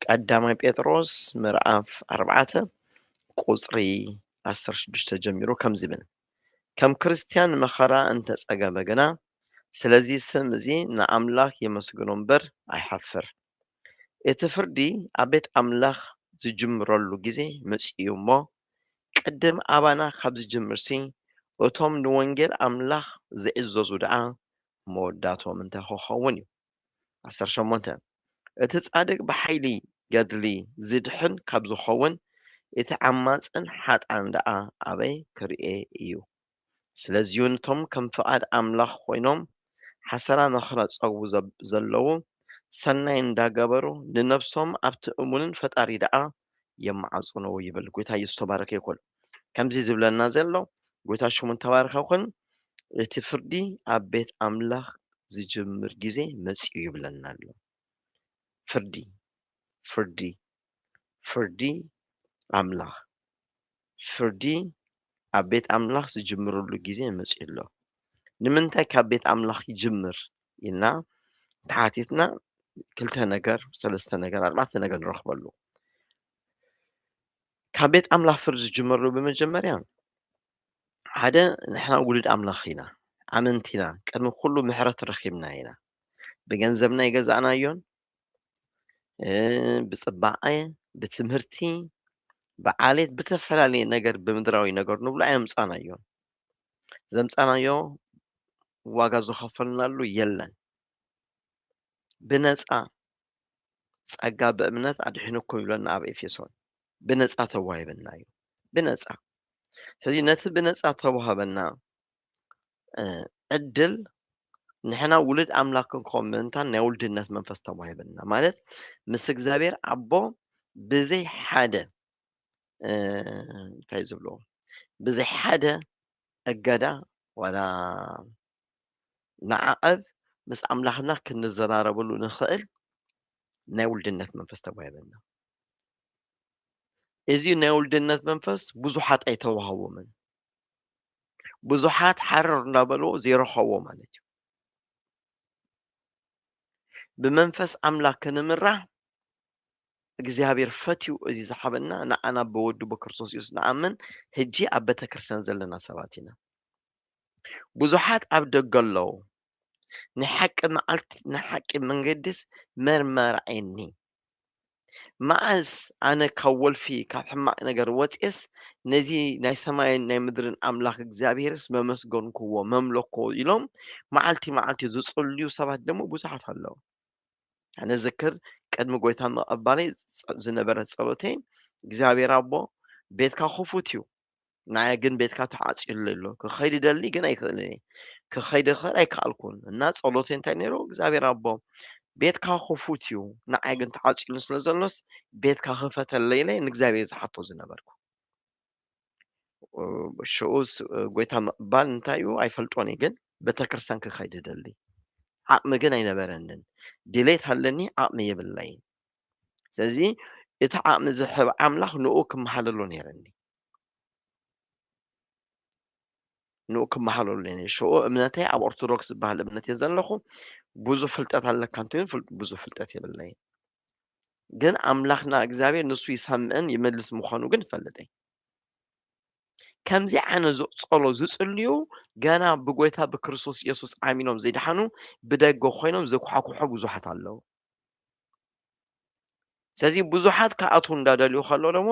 ቀዳማይ ጴጥሮስ ምዕራፍ ኣርባዕተ ቁጽሪ ዓሰርተ ሽዱሽተ ጀሚሩ ከምዚ ይብል ከም ክርስትያን መኸራ እንተጸገበ ግና ስለዚ ስም እዚ ንኣምላኽ የመስግኖ እምበር ኣይሓፍር እቲ ፍርዲ ኣብ ቤት ኣምላኽ ዝጅምረሉ ግዜ መጽኡ እሞ ቅድም ኣባና ካብ ዝጅምርሲ እቶም ንወንጌል ኣምላኽ ዝዕዘዙ ደኣ መወዳእትኦም እንታይ ኹኸውን እዩ? ዓሰርተ ሸሞንተ፣ እቲ ጻድቅ ብሓይሊ ገድሊ ዚድኅን ካብ ዚኸውን፣ እቲ ዓማጽን ኃጥኣን ደኣ ኣበይ ኪርኤ እዩ? ስለዚዩ ነቶም ከም ፍቓድ ኣምላኽ ኮይኖም ሓሰራ መከራ ዚጸግቡ ዘለዉ፣ ሠናይ እንዳገበሩ ንነፍሶም ኣብቲ እሙንን ፈጣሪ ደኣ የማዓጽኖ ይብል ጎይታ ኢየሱስ ተባረከ ይኩን ከምዚ ዝብለና ዘሎ ጎይታ ሽሙ ተባረከ ይኩን እቲ ፍርዲ ኣብ ቤት ኣምላኽ ዝጅምር ግዜ መጽዩ ይብለና ኣሎ ፍርዲ ፍርዲ ፍርዲ ኣምላኽ ፍርዲ ኣብ ቤት ኣምላኽ ዝጅምረሉ ግዜ መጺኡ ኣሎ። ንምንታይ ካብ ቤት ኣምላኽ ይጅምር ኢልና ተሓቲትና ክልተ ነገር፣ ሰለስተ ነገር፣ ኣርባዕተ ነገር ንረኽበሉ። ካብ ቤት ኣምላኽ ፍርዲ ዝጅመረሉ ብመጀመርያ ሓደ ንሕና ውሉድ ኣምላኽ ኢና፣ ኣመንቲ ኢና፣ ቅድሚ ኩሉ ምሕረት ረኺብና ኢና። ብገንዘብና ይገዛእናዮን ብፅባቐ ብትምህርቲ ብዓሌት ብተፈላለየ ነገር ብምድራዊ ነገር ንብሎ ኣየምፃናዮ ዘምፃናዮ ዋጋ ዝኸፈልናሉ የለን ብነፃ ጸጋ ብእምነት ኣድሒንኩም ይብለና ኣብ ኤፌሶን ብነፃ ተዋሂበና እዩ ብነፃ ስለዚ ነቲ ብነፃ ተዋህበና ዕድል ንሕና ውሉድ ኣምላክ ክንከውን ምእንታን ናይ ውልድነት መንፈስ ተዋሂበና ማለት ምስ እግዚኣብሔር ኣቦ ብዘይ ሓደ እንታይ ዝብልዎ ብዘይ ሓደ እገዳ ዋላ ንዓቐብ ምስ ኣምላኽና ክንዘራረበሉ ንኽእል ናይ ውልድነት መንፈስ ተዋሂበና እዚ ናይ ውልድነት መንፈስ ብዙሓት ኣይተዋህቦምን ብዙሓት ሓረር እንዳበልዎ ዘይረኸቦ ማለት እዩ ብመንፈስ ኣምላክ ክንምራሕ እግዚኣብሔር ፈትዩ እዚ ዝሓበና ንዓና ብወዱ ብክርስቶስ ኢየሱስ ንኣምን ሕጂ ኣብ ቤተ ክርስቲያን ዘለና ሰባት ኢና ብዙሓት ኣብ ደገ ኣለዉ ንሓቂ መዓልቲ ንሓቂ መንገድስ መርመርዐኒ መዓስ ኣነ ካብ ወልፊ ካብ ሕማቅ ነገር ወጽኤስ ነዚ ናይ ሰማይን ናይ ምድርን ኣምላኽ እግዚኣብሔርስ መመስገንኩዎ መምለኮ ኢሎም መዓልቲ መዓልቲ ዝጽልዩ ሰባት ደሞ ብዙሓት ኣለዉ። ኣነ ዝክር ቅድሚ ጎይታ ምቕባለይ ዝነበረ ጸሎተይ እግዚኣብሔር ኣቦ ቤትካ ክፉት እዩ ንዓይ ግን ቤትካ ተዓጽዩለይ ኣሎ ክኸይድ ይደሊ ግን ኣይክእልን እየ ክኸይድ እኽእል ኣይከኣልኩን እና ጸሎተይ እንታይ ነይሩ እግዚኣብሔር ኣቦ ቤትካ ክፉት እዩ ንዓይ ግን ተዓጽዩሉ ስለ ዘሎስ ቤትካ ክፈተለይ ኢለ ንእግዚኣብሔር ዝሓቶ ዝነበርኩ ሽኡስ ጎይታ ምቕባል እንታይ እዩ ኣይፈልጦን እዩ ግን ቤተክርስትያን ክኸይድ ይደሊ ዓቕሚ ግን ኣይነበረንን ድሌት ኣለኒ ዓቕሚ የብለይን ስለዚ እቲ ዓቕሚ ዝሕብ ኣምላኽ ንኡ ክመሓለሎ ነይረኒ ንኡ ክመሃለሉኒ ሽኡ እምነተይ ኣብ ኦርቶዶክስ ዝበሃል እምነት እየ ዘለኹ ብዙሕ ፍልጠት ኣለካ እንትን ብዙሕ ፍልጠት የብለይ ግን ኣምላኽና እግዚኣብሔር ንሱ ይሰምዕን ይመልስ ምዃኑ ግን ይፈልጥ እየ ከምዚ ዓይነት ዝፀሎ ዝፅልዩ ገና ብጎይታ ብክርስቶስ ኢየሱስ ኣሚኖም ዘይድሓኑ ብደገ ኮይኖም ዘኳሕኩሖ ብዙሓት ኣለዉ ስለዚ ብዙሓት ክኣትዉ እንዳደልዩ ከሎ ደሞ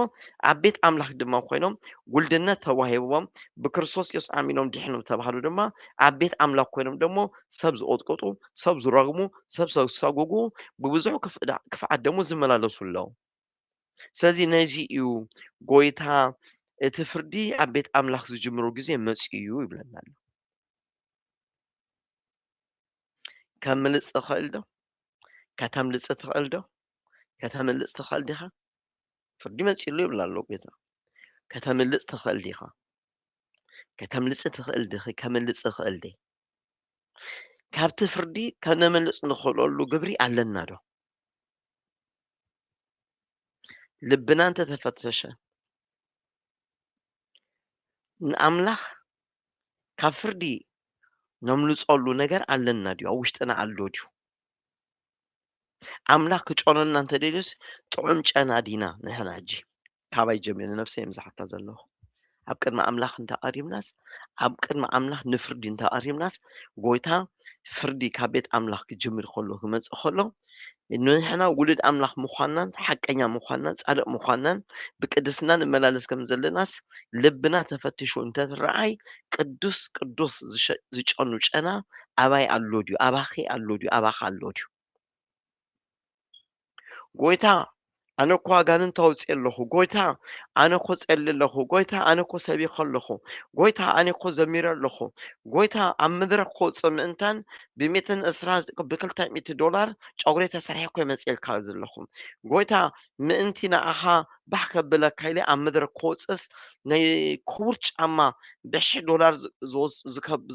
ኣብ ቤት ኣምላኽ ድማ ኮይኖም ጉልድነት ተዋሂብዎም ብክርስቶስ ኢየሱስ ኣሚኖም ድሕኑ ተባህሉ ድማ ኣብ ቤት ኣምላኽ ኮይኖም ደሞ ሰብ ዝቕጥቅጡ፣ ሰብ ዝረግሙ፣ ሰብ ዘሳጉጉ ብብዙሕ ክፍኣት ደሞ ዝመላለሱ ኣለዉ። ስለዚ ነዚ እዩ ጎይታ እቲ ፍርዲ ኣብ ቤት ኣምላኽ ዝጅምሩ ግዜ መጽኡ እዩ ይብለና ኣሎ። ከምልጽ ትኽእል ዶ ከተምልጽ ትኽእል ዶ ከተምልጽ ትኽእል ዲኻ ፍርዲ መጺሉ ይብላ ኣሎ ጌታ ከተምልጽ ትኽእል ዲኻ ከተምልጽ ትኽእል ዲኺ ከምልጽ ትኽእል ዲ ካብቲ ፍርዲ ከነምልጽ ንኽእለሉ ግብሪ ኣለና ዶ ልብና እንተተፈተሸ ንኣምላኽ ካብ ፍርዲ ነምልጸሉ ነገር ኣለና ድዩ? ኣብ ውሽጥና ኣሎ ድዩ? ኣምላኽ ክጨኖና እንተደልዩስ ጥዑም ጨና ዲና ንሕና ሕጂ ካባይ ጀሚሩ ነብሰ እዮም ዝሓታ ዘለኹ ኣብ ቅድሚ ኣምላኽ እንተቐሪብናስ ኣብ ቅድሚ ኣምላኽ ንፍርዲ እንተቐሪብናስ ጎይታ ፍርዲ ካብ ቤት ኣምላኽ ክጅምር ከሎ ክመጽእ ከሎ ንሕና ውሉድ ኣምላኽ ምዃንናን ሓቀኛ ምዃንናን ጻድቕ ምዃንናን ብቅድስና ንመላለስ ከም ዘለናስ ልብና ተፈትሹ እንተትረኣይ ቅዱስ ቅዱስ ዝጨኑ ጨና ኣባይ ኣሎ ድዩ ኣባኺ ኣሎ ድዩ ኣባኻ ኣሎ ድዩ ጎይታ ኣነ እኮ ኣጋንንት ኣውፅእ ኣለኹ ጎይታ ኣነ እኮ ፀሊ ኣለኹ ጎይታ ኣነ እኮ ሰቢኸ ኣለኹ ጎይታ ኣነ እኮ ዘሚረ ኣለኹ ጎይታ ኣብ መድረክ ክወፅእ ምእንታን ብሜትን እስራ ብክልተ ሚእቲ ዶላር ጨጉሪ ተሰርሐ እኮ ይመፅልካ ዘለኹ ጎይታ ምእንቲ ንዓኻ ባህ ከብለካ ኢለ ኣብ መድረክ ክወፅእስ ናይ ክቡር ጫማ ብሽሕ ዶላር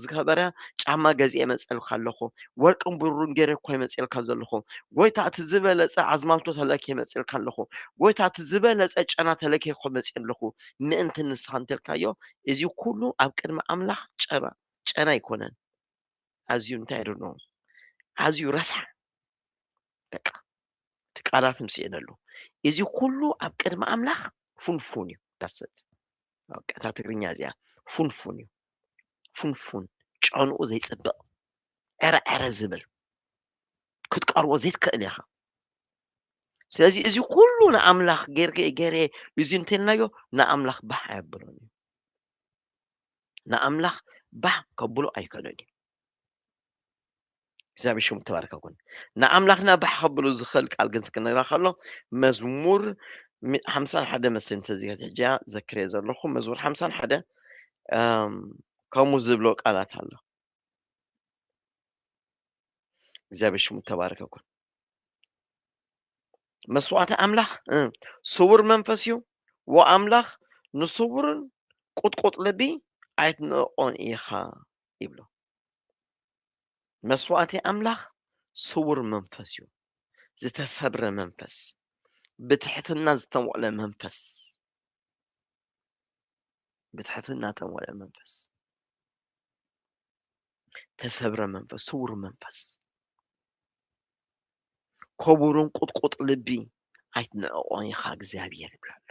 ዝከበረ ጫማ ገዚኤ መፅኤልካ ኣለኹ። ወርቅን ብሩርን ገይረ እኳ እየ መፅኤልካ ዘለኹ። ጎይታ እቲ ዝበለፀ ኣዝማልቶ ተለክየ መፅኤልካ ኣለኹ። ጎይታ እቲ ዝበለፀ ጨና ተለክየ እኮ መፅኤ ኣለኹ ምእንቲ ንስኻ እንተልካዮ እዚ ኩሉ ኣብ ቅድሚ ኣምላኽ ጨና ጨና ኣይኮነን። ኣዝዩ እንታይ ኣይ ዶንት ኖው ኣዝዩ ረሳሕ በቃ እቲ ቃላት ምስኤነሉ እዚ ኩሉ ኣብ ቅድሚ ኣምላኽ ፉንፉን እዩ ዳሰት በቃ እታ ትግርኛ እዚኣ ፉንፉን እዩ ፉንፉን ጨንኡ ዘይፅብቕ ዕረ ዕረ ዝብል ክትቀርቦ ዘይትክእል ኢኻ ስለዚ እዚ ኩሉ ንኣምላኽ ጌርጌ ገይረ እዚ እንተልናዮ ንኣምላኽ ባህ ኣየብሎን እዩ ንኣምላኽ ባህ ከብሎ ኣይከሎን እዩ እግዚኣብሔር ሽሙ ተባረከ ኩን ንኣምላኽና ባሕ ከብሉ ዝኽእል ቃል ግን ስክነግራ ከሎ መዝሙር ሓምሳን ሓደ መስል እንተዚገት ሕጂያ ዘክርየ ዘለኹ መዝሙር ሓምሳን ሓደ ከምኡ ዝብሎ ቃላት ኣሎ እግዚኣብሔር ሽሙ ተባረከ ኩን መስዋዕቲ ኣምላኽ ስውር መንፈስ እዩ ወኣምላኽ ንስውርን ቁጥቁጥ ልቢ ኣይትንእቆን ኢኻ ይብሎ መስዋእቲ ኣምላኽ ስውር መንፈስ እዩ፣ ዝተሰብረ መንፈስ፣ ብትሕትና ዝተሞቕለ መንፈስ ብትሕትና ተሞልአ መንፈስ ተሰብረ መንፈስ ስውር መንፈስ ኮቡርን ቁጥቁጥ ልቢ ኣይትንዕቆን ኢኻ እግዚኣብሔር ይብላ ኣሎ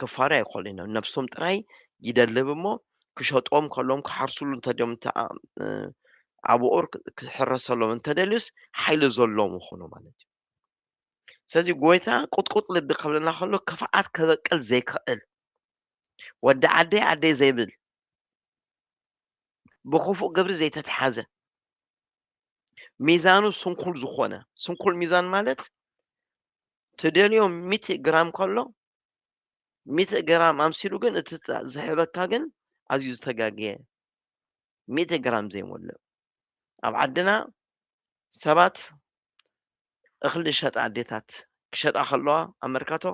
ክፋሪ ኣይኮኑ ኢና ነብሶም ጥራይ ይደልብ እሞ ክሸጦም ከሎም ክሓርስሉ እንተድዮም ኣብኦር ክሕረሰሎም እንተደልዩስ ሓይሊ ዘለዎም ይኾኑ ማለት እዩ ስለዚ ጎይታ ቁጥቁጥ ልቢ ከብለና ከሎ ክፍዓት ከበቅል ዘይክእል ወዲ ዓደይ ዓደይ ዘይብል ብክፉእ ግብሪ ዘይተትሓዘ ሚዛኑ ስንኩል ዝኾነ ስንኩል ሚዛን ማለት ትደልዮ ሚእቲ ግራም ከሎ ሚእቲ ግራም ኣምሲሉ ግን እቲ ዝሕበካ ግን ኣዝዩ ዝተጋገየ ሚእቲ ግራም ዘይሞልእ ኣብ ዓድና ሰባት እኽሊ ዝሸጣ ኣዴታት ክሸጣ ከለዋ ኣብ መርካቶ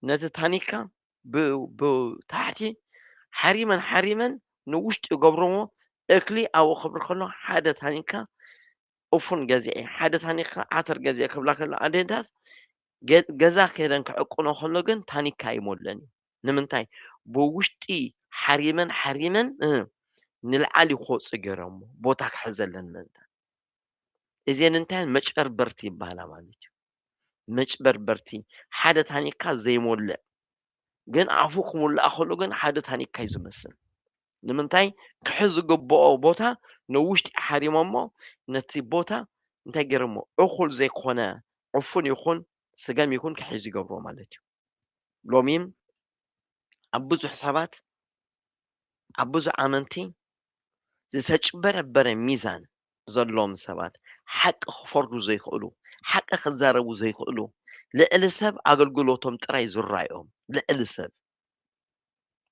ነቲ ታኒካ ብታሕቲ ሓሪመን ሓሪመን ንውሽጢ ገብርዎ እክሊ ኣብኡ ክብሪ ከሎ ሓደ ታኒካ ኡፉን ገዚዔ ሓደ ታኒካ ዓተር ገዚዔ ክብላ ከለዋ ኣዴታት ገዛ ከይደን ክዕቁኖ ከሎ ግን ታኒካ ይሞለን እዩ ንምንታይ ብውሽጢ ሓሪመን ሓሪመን ንልዓሊ ክወፁ ገይሮሞ ቦታ ክሕዘለን ምእንታን እዚን እንታይን መጨርበርቲ ይበሃላ ማለት እዩ መጭበርበርቲ ሓደ ታኒካ ዘይሞልእ ግን ኣፉ ክሙላእ ከሎ ግን ሓደ ታኒካ እዩ ዝመስል ንምንታይ ክሕዝ ዝግብኦ ቦታ ንውሽጢ ሓሪሞሞ ነቲ ቦታ እንታይ ገይሮሞ እኹል ዘይኮነ ዕፉን ይኹን ስገም ይኹን ክሕዝ ይገብሮ ማለት እዩ ሎሚም ኣብ ብዙሕ ሰባት ኣብ ብዙሕ ኣመንቲ ዝተጭበረበረ ሚዛን ዘለዎም ሰባት ሓቂ ክፈርዱ ዘይክእሉ ሓቂ ክዛረቡ ዘይክእሉ ልዕሊ ሰብ ኣገልግሎቶም ጥራይ ዝራዮም ልዕሊ ሰብ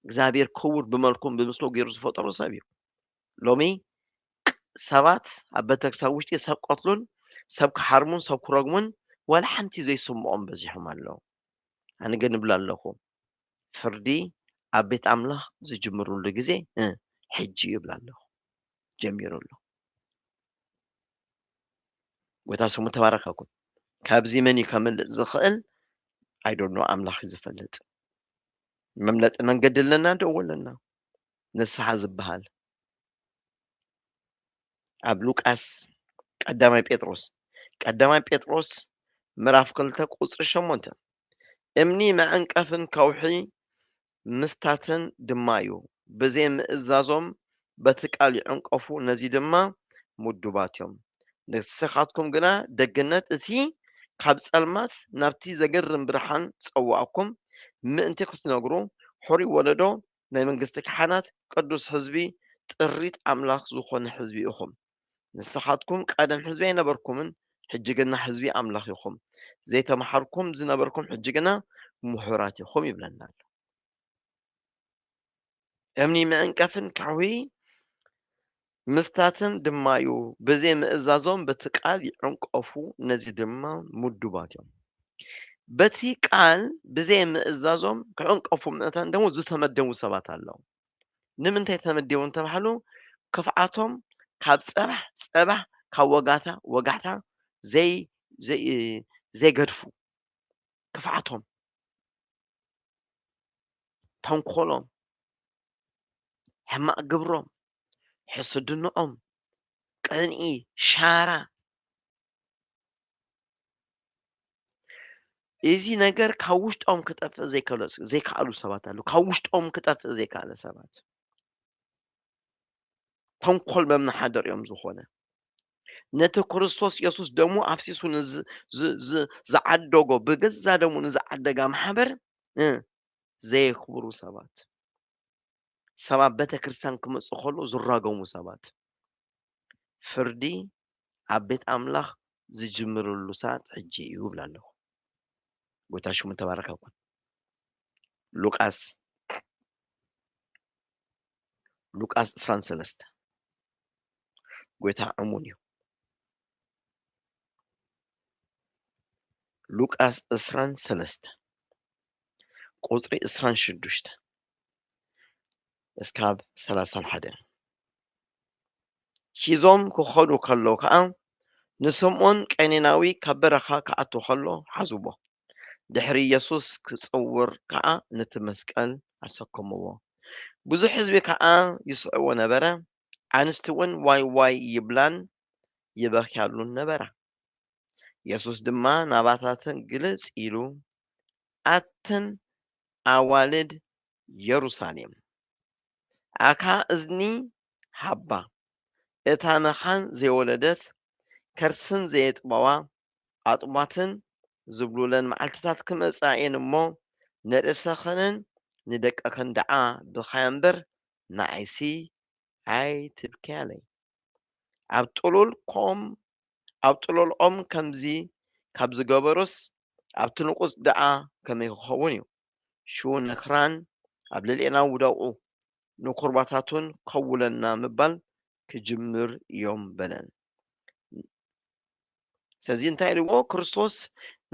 እግዚኣብሔር ክቡር ብመልኩም ብምስሉ ገይሩ ዝፈጠሩ ሰብ እዩ ሎሚ ሰባት ኣብ ቤተክርስቲያን ውሽጢ ሰብ ክቐትሉን ሰብ ክሓርሙን ሰብ ክረግሙን ዋላ ሓንቲ ዘይስምዖም በዚሖም ኣለዉ። ኣነ ግን እብል ኣለኹ ፍርዲ ኣብ ቤት ኣምላኽ ዝጅምርሉ ግዜ ሕጂ እዩ እብል ኣለኹ ጀሚሩ ኣሎ። ጎይታ ስሙ ተባረከ ይኩን። ካብዚ መን እዩ ከምልጥ ዝኽእል ኣይዶኖ ኣምላኽ እዩ ዝፈልጥ። መምለጢ መንገዲ ኣለና ዶ ኣለና? ንስሓ ዝበሃል ኣብ ሉቃስ ቀዳማይ ጴጥሮስ ቀዳማይ ጴጥሮስ ምዕራፍ ክልተ ቁፅሪ ሸሞንተ እምኒ መዐንቀፍን ከውሒ ምስታትን ድማ እዩ ብዘይ ምእዛዞም በቲ ቃል ይዕንቀፉ ነዚ ድማ ምዱባት እዮም ንስኻትኩም ግና ደግነት እቲ ካብ ጸልማት ናብቲ ዘገርም ብርሃን ጸዋእኩም ምእንቲ ክትነግሩ ሕሩይ ወለዶ ናይ መንግስቲ ካህናት ቅዱስ ሕዝቢ ጥሪት ኣምላኽ ዝኾነ ሕዝቢ ኢኹም። ንስኻትኩም ቀደም ሕዝቢ ኣይነበርኩምን ሕጂ ግና ሕዝቢ ኣምላኽ ኢኹም። ዘይተመሓርኩም ዝነበርኩም ሕጂ ግና ምሁራት ኢኹም ይብለና ኣሎ። እምኒ መዕንቀፍን ከውሒ ምስታትን ድማ'ዩ፣ ብዘይ ምእዛዞም በቲ ቃል ይዕንቀፉ፣ ነዚ ድማ ምዱባት እዮም። በቲ ቃል ብዘይ ምእዛዞም ክዕንቀፉ ምእንታን ደሞ ዝተመደቡ ሰባት ኣለዉ። ንምንታይ ተመዲቦም እንተበሃሉ ክፍኣቶም ካብ ጸባሕ ጸባሕ ካብ ወጋታ ወጋሕታ ዘይ ዘይ ዘይገድፉ ክፍኣቶም ተንኮሎም ሕማቕ ግብሮም ሕስድንኦም፣ ቅንኢ፣ ሻራ እዚ ነገር ካብ ውሽጦም ክጠፍእ ዘይከኣሉ ሰባት ኣሉ ካብ ውሽጦም ክጠፍእ ዘይከኣለ ሰባት ተንኮል መመሓደር እዮም ዝኾነ ነቲ ክርስቶስ የሱስ ደሞ ኣፍሲሱ ዝዓደጎ ብገዛ ደሞ ንዝዓደጋ ማሕበር ዘየክብሩ ሰባት ሰብ ኣብ ቤተ ክርስቲያን ክመጽእ ከሎ ዝራገሙ ሰባት ፍርዲ ኣብ ቤት ኣምላኽ ዝጅምርሉ ሰዓት ሕጂ እዩ ይብላ ኣለኹ። ጎይታ ሽሙ ተባረከ ይኹን። ሉቃስ ሉቃስ 23 ጎይታ እሙን እዩ። ሉቃስ 23 ቁጽሪ 26 እስካብ ሰላሳን ሓደን ሒዞም ክኸዱ ከለዉ ከዓ ንስምዖን ቀኔናዊ ካብ በረኻ ክኣቱ ከሎ ሓዝዎ ድሕሪ ኢየሱስ ክጽውር ከዓ ነቲ መስቀል ኣሰከምዎ ብዙሕ ህዝቢ ከዓ ይስዕዎ ነበረ ኣንስቲ እውን ዋይ ዋይ ይብላን ይበክያሉን ነበራ ኢየሱስ ድማ ናባታተን ግልጽ ኢሉ ኣትን ኣዋልድ የሩሳሌም፣ ኣካ እዝኒ ሃባ፣ እታ መኻን ዘይወለደት፣ ከርስን ዘየጥበዋ፣ ኣጥቧትን ዝብሉለን መዓልትታት ክመጻ እየን እሞ፣ ንርእሰኽንን ንደቅኽን ደኣ ብኻያ እምበር፣ ንዓይሲ ኣይትብከያለይ ኣብ ጥሉል ኮም ኣብ ጥሉል ኦም ከምዚ ካብ ዝገበሩስ ኣብቲ ንቑጽ ደኣ ከመይ ክኸውን እዩ ሽኡ ነክራን ኣብ ልዕሌና ውደቑ ንኩርባታቱን ከውለና ምባል ክጅምር እዮም በለን ስለዚ እንታይ ኢልዎ ክርስቶስ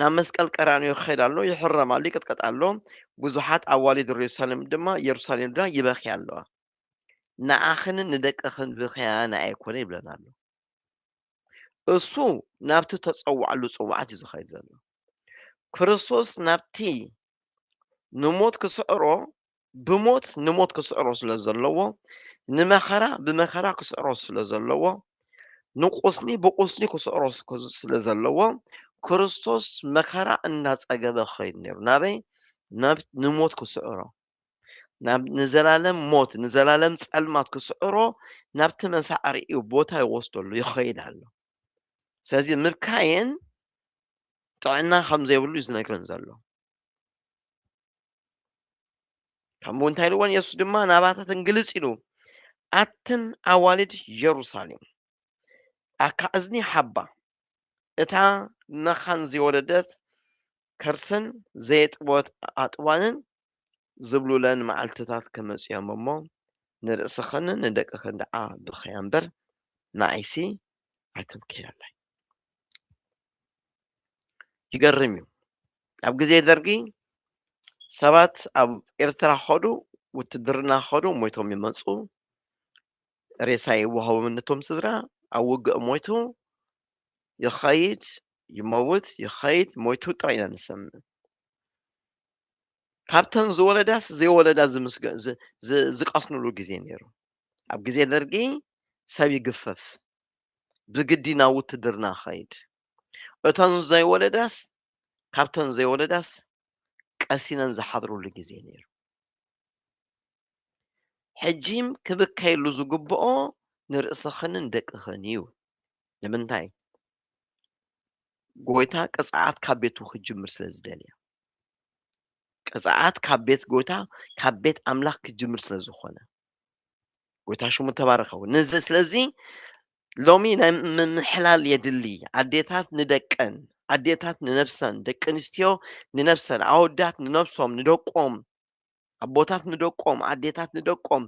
ናብ መስቀል ቀራንዮ ክኸይድ ኣሎ ይሕረም ኣሎ ይቅጥቀጥ ኣሎ ብዙሓት ኣዋልድ ሩሳሌም ድማ የሩሳሌም ድማ ይበክያ ኣለዋ ንዓኽንን ንደቅኽን ብኸያ ንኣይ ኣይኮነ ይብለን ኣሎ። እሱ ናብቲ ተጸዋዕሉ ጽዋዓት እዩ ዝኸይድ ዘሎ። ክርስቶስ ናብቲ ንሞት ክስዕሮ ብሞት ንሞት ክስዕሮ ስለ ዘለዎ ንመኸራ ብመኸራ ክስዕሮ ስለ ዘለዎ ንቁስሊ ብቁስሊ ክስዕሮ ስለ ዘለዎ ክርስቶስ መኸራ እናጸገበ ክኸይድ ነይሩ ናበይ ናብ ንሞት ክስዕሮ ናብ ንዘላለም ሞት ንዘላለም ጸልማት ክስዕሮ ናብቲ መሳዕሪኡ ቦታ ይወስደሉ ይኸይድ ኣሎ ስለዚ ምካየን ጥዕና ከም ዘይብሉ እዩ ዝነግረን ዘሎ ከምኡ እንታይ ኢልዎን የሱስ ድማ ናባታተን ግልጽ ኢሉ ኣትን ኣዋልድ የሩሳሌም ኣካ እዝኒ ሓባ እታ መኻን ዝወለደት ከርስን ዘየጥበወት ኣጥዋንን ዝብሉለን መዓልትታት ክመጽእዮም እሞ፣ ንርእስኽን ንደቅኽን ደኣ ብኸያ እምበር፣ ንዓይሲ ኣይትብከያላይ። ይገርም እዩ። ኣብ ግዜ ደርጊ ሰባት ኣብ ኤርትራ ኸዱ ውትድርና ኸዱ ሞይቶም ይመፁ ሬሳ ይወሃቦም ነቶም ስድራ ኣብ ውግእ ሞይቱ ይኸይድ ይመውት ይኸይድ ሞይቱ ጥራይ ኢና ንሰምዕ ካብተን ዝወለዳስ ዘይወለዳ ዝቀስንሉ ግዜ ነይሩ ኣብ ግዜ ደርጊ ሰብ ይግፈፍ ብግዲ ናብ ውትድርና ኸይድ እተን ዘይወለዳስ ካብተን ዘይወለዳስ ቀሲነን ዝሓድሩሉ ግዜ ነይሩ ሕጂም ክብከየሉ ዝግብኦ ንርእስኽንን ደቅኽን እዩ። ንምንታይ? ጎይታ ቅጽዓት ካብ ቤቱ ክጅምር ስለ ዝደልየ። ቅጽዓት ካብ ቤት ጎይታ ካብ ቤት ኣምላኽ ክጅምር ስለ ዝኾነ። ጎይታ ሽሙ ተባረኸ። ንዚ ስለዚ ሎሚ ናይ ምምሕላል የድሊ። ኣዴታት ንደቀን፣ ኣዴታት ንነብሰን፣ ደቂ ኣንስትዮ ንነብሰን፣ ኣወዳት ንነብሶም፣ ንደቆም ኣቦታት ንደቆም ኣዴታት ንደቆም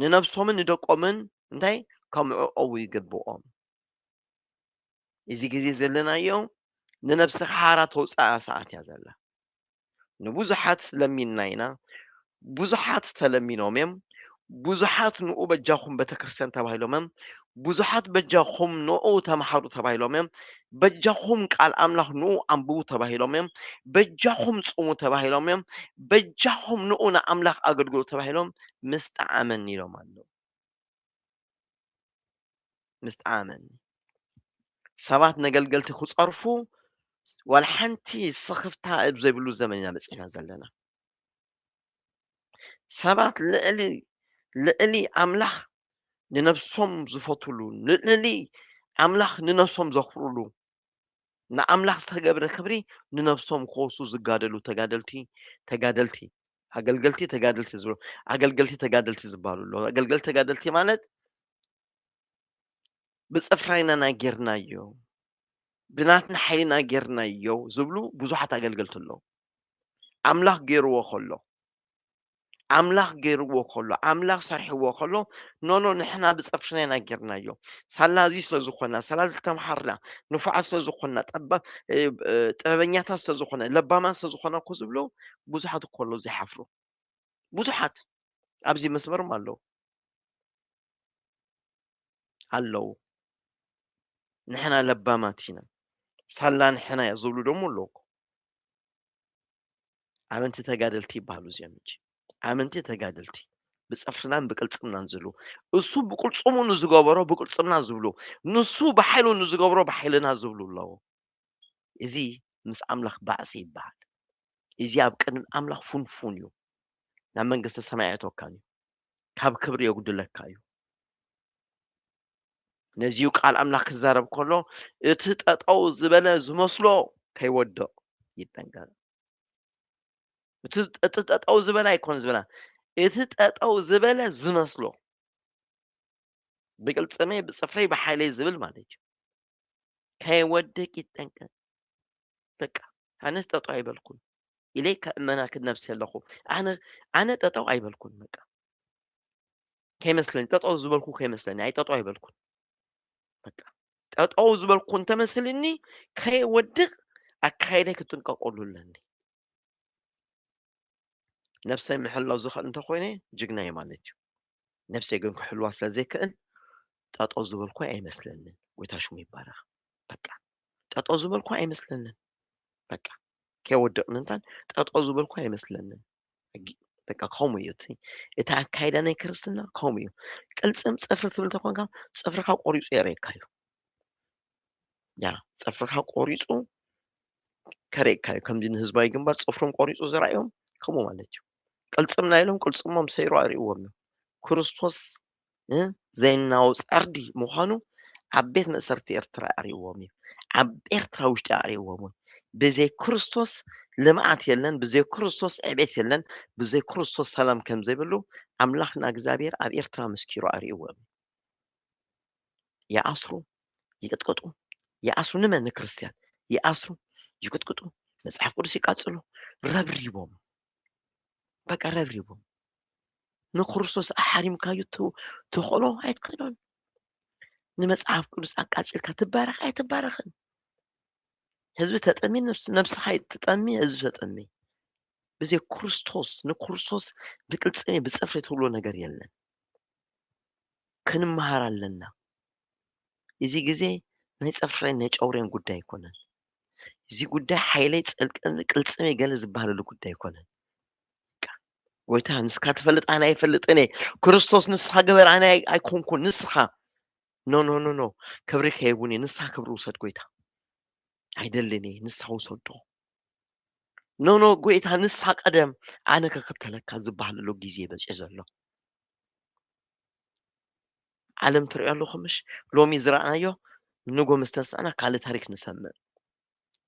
ንነብሶምን ንደቆምን እንታይ ከምዕቆቡ ይግብኦም እዚ ግዜ ዘለናዮ ንነብስኻ ሓራ ተውፅኣ ሰዓት እያ ዘላ ንብዙሓት ለሚንና ኢና ብዙሓት ተለሚኖም እዮም ብዙሓት ንኡ በጃኹም ቤተክርስትያን ተባሂሎም እዮም። ብዙሓት በጃኹም ንኡ ተምሓሩ ተባሂሎም እዮም። በጃኹም ቃል ኣምላኽ ንኡ ኣንብቡ ተባሂሎም እዮም። በጃኹም ጽሙ ተባሂሎም እዮም። በጃኹም ንኡ ንኣምላኽ ኣገልግሉ ተባሂሎም ምስ ጠዓመኒ ኢሎም ኣለዉ። ምስ ጠዓመኒ ሰባት ነገልገልቲ ክጸርፉ ዋላ ሓንቲ ስኽፍታ ኣብ ዘይብሉ ዘመን ኢና በጺሕና ዘለና። ሰባት ልዕሊ ልዕሊ ኣምላኽ ንነብሶም ዝፈትሉ ልዕሊ ኣምላኽ ንነብሶም ዘኽብርሉ ንኣምላኽ ዝተገብረ ክብሪ ንነብሶም ክወሱ ዝጋደሉ ተጋደልቲ ተጋደልቲ ኣገልገልቲ ተጋደልቲ ዝብሎ ኣገልገልቲ ተጋደልቲ ዝበሃሉ ኣለዉ ኣገልገልቲ ተጋደልቲ ማለት ብፅፍራይናና ጌርናዮ ብናትና ሓይልና ጌርናዮ ዝብሉ ብዙሓት ኣገልገልቲ ኣለዉ ኣምላኽ ገይርዎ ከሎ ኣምላኽ ገይርዎ ከሎ ኣምላኽ ሰርሕዎ ከሎ ኖኖ ንሕና ብጸፍርና ኢና ጌርናዮ ሳላ እዚ ስለ ዝኾና ሳላ ዝተምሃርና ንፉዓት ስለ ዝኾና ጠባ ጥበበኛታት ስለ ዝኾነ ለባማት ስለ ዝኾና እኮ ዝብሎ ብዙሓት እኮ ኣለዉ ዘይሓፍሩ ብዙሓት ኣብዚ መስመርም ኣለዉ ኣለዉ ንሕና ለባማት ኢና ሳላ ንሕና እያ ዝብሉ ደሞ ኣለዉ ኣመንቲ ተጋደልቲ ይበሃሉ እዚኦም እንጂ ኣመንቲ ተጋደልቲ ብፀፍርናን ብቅልፅምናን ዝብሉ እሱ ብቅልፅሙ ንዝገበሮ ብቅልፅምና ዝብሉ ንሱ ብሓይሉ ንዝገብሮ ብሓይልና ዝብሉ ኣለዎ እዚ ምስ ኣምላኽ ባዕሲ ይበሃል እዚ ኣብ ቅድሚ ኣምላኽ ፉንፉን እዩ ናብ መንግስተ ሰማይ ኣየተወካን እዩ ካብ ክብሪ የጉድለካ እዩ ነዚዩ ቃል ኣምላኽ ክዛረብ ከሎ እቲ ጠጠው ዝበለ ዝመስሎ ከይወድቕ ይጠንቀቕ። እቲ እቲ ጠጠው ዝበለ ኣይኮን ዝበላ እቲ ጠጠው ዝበለ ዝመስሎ ብቅልጽመይ ብጽፍረይ ብሓይለይ ዝብል ማለት እዩ። ከይወድቅ ይጠንቀቅ። በቃ ኣነስ ጠጠው ኣይበልኩን ኢለይ ከእመና ክነብሲ ኣለኹ ኣነ ኣነ ጠጠው ኣይበልኩን በቃ ከይመስለኒ ጠጠው ዝበልኩ ከይመስለኒ ኣይ ጠጠው ኣይበልኩን በቃ ጠጠው ዝበልኩ እንተመስልኒ ከይወድቕ ኣካይደይ ክጥንቀቀሉ ኣለኒ ነብሰይ ምሕላው ዝኽእል እንተኮይነ ጅግና እየ ማለት እዩ ነብሰይ ግን ክሕልዋ ስለ ዘይክእል ጠጠው ዝበልኩ ኣይመስለንን ጎይታ ሽሙ ይባረኽ በቃ ጠጠው ዝበልኩ ኣይመስለንን በቃ ከይወደቕ ምእንታን ጠጠው ዝበልኩ ኣይመስለንን። በቃ ከምኡ እዩ እቲ እቲ ኣካይዳ ናይ ክርስትና ከምኡ እዩ። ቅልጽም ጽፍሪ ትብል እንተኾንካ ጽፍርኻ ቆሪጹ የርእየካ እዩ። ያ ጽፍርኻ ቆሪጹ ከርእየካ እዩ። ከምዚ ንህዝባዊ ግንባር ጽፍሮም ቆሪጹ ዘርኣዮም ከምኡ ማለት እዩ። ቅልጽም ናይ ኢሎም ቅልጽሞም ሰይሩ ኣርእይዎም እዩ። ክርስቶስ ን ዘይናዊ ጸርዲ ምዃኑ ኣብ ቤት መእሰርቲ ኤርትራ ኣርእዎም እዩ ኣብ ኤርትራ ውሽጢ ኣርእዎም ውን ብዘይ ክርስቶስ ልምዓት የለን ብዘይ ክርስቶስ ዕቤት የለን ብዘይ ክርስቶስ ሰላም ከም ዘይብሉ ኣምላኽና እግዚኣብሔር ኣብ ኤርትራ መስኪሩ ኣርእዎም ይኣስሩ ይቅጥቅጡ ይኣስሩ ንመን ንክርስትያን ይኣስሩ ይቅጥቅጡ መጽሓፍ ቅዱስ ይቃጽሉ ረብሪቦም በቃ ረብሪቡ ንክርስቶስ ኣሓሪምካዩ ተኽእሎ ኣይትኽእሎን ንመፅሓፍ ቅዱስ ኣቃፂልካ ትባረኽ ኣይትባረኽን ህዝቢ ተጠሚ ነብስኻ ተጠሚ ህዝቢ ተጠሚ ብዘይ ክርስቶስ ንክርስቶስ ብቅልፅሜ ብፅፍሪ ትብሎ ነገር የለን ክንመሃር ኣለና እዚ ግዜ ናይ ፅፍሬን ናይ ጨውሬን ጉዳይ ኣይኮነን። እዚ ጉዳይ ሓይለይ ፀልጠኒ ቅልፅመይ ገለ ዝበሃለሉ ጉዳይ ኣይኮነን። ጎይታ ንስካ ትፈልጥ ኣነ ኣይፈልጥን እየ ክርስቶስ ንስካ ገበር ኣነ ኣይኮንኩን ንስካ ኖ ኖ ኖ ኖ ክብሪ ከይቡን እየ ንስካ ክብሪ ውሰድ ጎይታ ኣይደልን እየ ንስካ ውሰዶ ኖ ኖ ጎይታ ንስካ ቀደም ኣነ ክክተለካ ዝበሃለሉ ግዜ በፂ ዘሎ ዓለም ትርእዮ ኣለኹም ምሽ ሎሚ ዝረኣናዮ ንጎ ምስ ተስዕና ካልእ ታሪክ ንሰምዕ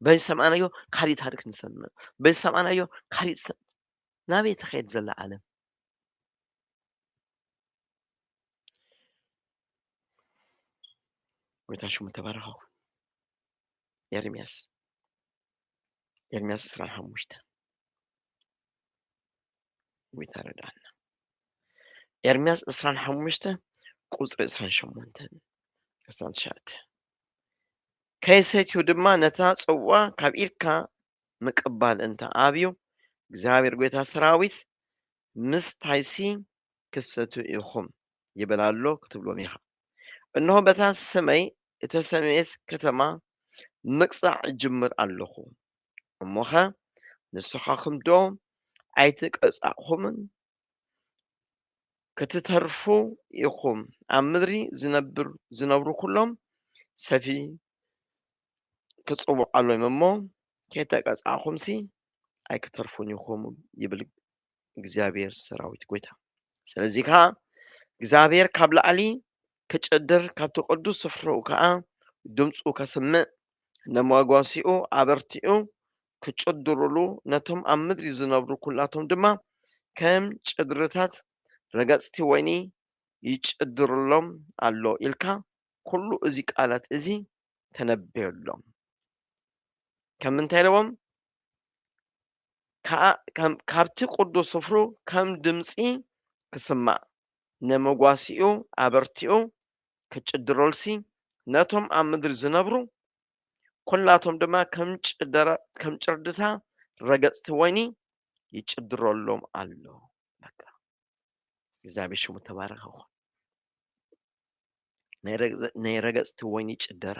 በዚ ሰምዕናዮ ካሊእ ታሪክ ንሰምዕ በዚ ሰምዕናዮ ካሊእ ናበይ ተኸየድ ዘላ ዓለም ጎይታ ሽሙ ተባረኸው ኤርምያስ ኤርምያስ ዕስራን ሓሙሽተን ጎይታ ረድኣና ኤርምያስ ዕስራን ሓሙሽተ ቁፅሪ ዕስራን ሸሞንተን ዕስራን ትሽዓተ ከይሰትዩ ድማ ነታ ጽዋ ካብ ኢድካ ምቅባል እንተ ኣብዩ እግዚኣብሔር ጎይታ ሰራዊት ምስታይሲ ክሰቱ ኢኹም ይብል ኣሎ ክትብሎም ኢኻ እነሆ በታ ስመይ እተሰምየት ከተማ ምቅጻዕ እጅምር ኣለኹ እሞኸ ንስኻኹምዶ ኣይተቀጻዕኹምን? ክትተርፉ ኢኹም። ኣብ ምድሪ ዝነብር ዝነብሩ ኩሎም ሰፊ ክጽውዓሎም እሞ ከይተቀጻዕኹምሲ ኣይክተርፉን ኢኹም ይብል እግዚኣብሔር ሰራዊት ጎይታ ስለዚ ከዓ እግዚኣብሔር ካብ ላዕሊ ክጭድር ካብቲ ቅዱስ ስፍርኡ ከዓ ድምፁ ከስምዕ ነመጓሲኡ ኣበርቲዑ ክጭድሩሉ ነቶም ኣብ ምድሪ ዝነብሩ ኩላቶም ድማ ከም ጭድርታት ረገፅቲ ወይኒ ይጭድርሎም ኣሎ ኢልካ ኩሉ እዚ ቃላት እዚ ተነበየሎም ከምንታይ ኢለዎም ከኣ ካብቲ ቅዱስ ስፍሩ ከም ድምጺ ክስማዕ፣ ንመጓሲኡ ኣበርቲዑ ክጭድረሉሲ፣ ነቶም ኣብ ምድሪ ዝነብሩ ኵላቶም ድማ ከም ጭርድታ ረገጽቲ ወይኒ ይጭድረሎም ኣሎ። በቃ እግዚኣብሔር ሽሙ ተባረኸ ይኹን። ናይ ረገጽቲ ወይኒ ጭደራ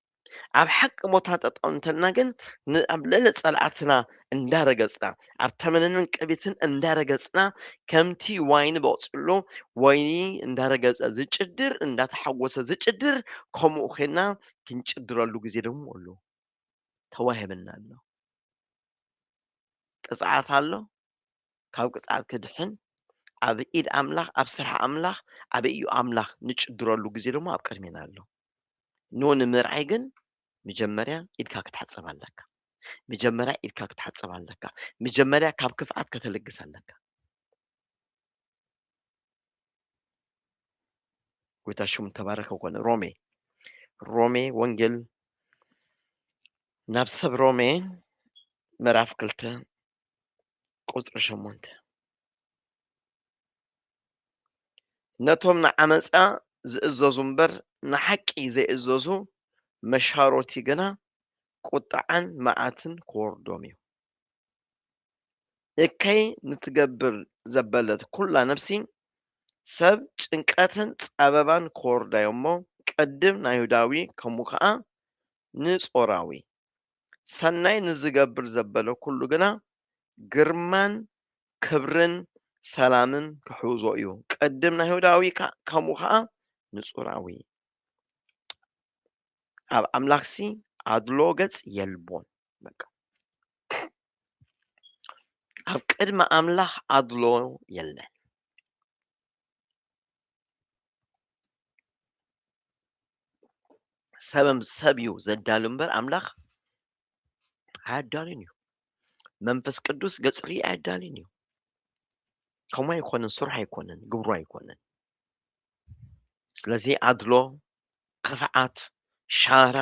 ኣብ ሓቂ ቦታ ጠጠው እንተልና ግን ንኣብ ልዕሊ ፀላእትና እንዳረገፅና ኣብ ተመነንን ቅቢትን እንዳረገፅና ከምቲ ዋይኒ በቕፅሎ ወይኒ እንዳረገፀ ዝጭድር እንዳተሓወሰ ዝጭድር ከምኡ ኮይና ክንጭድረሉ ግዜ ደግሞ ኣሎ ተዋሂብና ኣሎ ቅፅዓት ኣሎ ካብ ቅፅዓት ክድሕን ኣብ ኢድ ኣምላኽ ኣብ ስራሕ ኣምላኽ ኣብ እዩ ኣምላኽ ንጭድረሉ ግዜ ደግሞ ኣብ ቅድሜና ኣሎ ን ንምርዓይ ግን ምጀመርያ ኢድካ ክትሓጽብ ኣለካ ምጀመርያ ኢድካ ክትሓጽብ ኣለካ ምጀመርያ ካብ ክፍኣት ከተልግስ ኣለካ ጎይታ ሽሙ ተባረከ ኮነ ሮሜ ሮሜ ወንጌል ናብ ሰብ ሮሜ ምዕራፍ ክልተ ቁፅሪ ሸሞንተ ነቶም ንዓመፃ ዝእዘዙ እምበር ንሓቂ ዘይእዘዙ መሻሮቲ ግና ቁጥዓን መዓትን ክወርዶም እዩ። እከይ ንትገብር ዘበለት ኩላ ነፍሲ ሰብ ጭንቀትን ጸበባን ክወርዳዮ እሞ ቅድም ናይሁዳዊ ከሙ ከኣ ንጾራዊ ሰናይ ንዝገብር ዘበለ ኩሉ ግና ግርማን ክብርን ሰላምን ክሕውዞ እዩ። ቅድም ናይሁዳዊ ከምኡ ከዓ ንጹራዊ ኣብ ኣምላኽሲ ኣድሎ ገጽ የልቦን። በቃ ኣብ ቅድሚ ኣምላኽ ኣድሎ የለን። ሰበም ሰብ እዩ ዘዳሉ እምበር ኣምላኽ ኣያዳልን እዩ መንፈስ ቅዱስ ገጽሪ ኣያዳልን እዩ ከምኡ ኣይኮነን ስራሕ ኣይኮነን ግብሩ ኣይኮነን ስለዚ ኣድሎ ክፍዓት ሻራ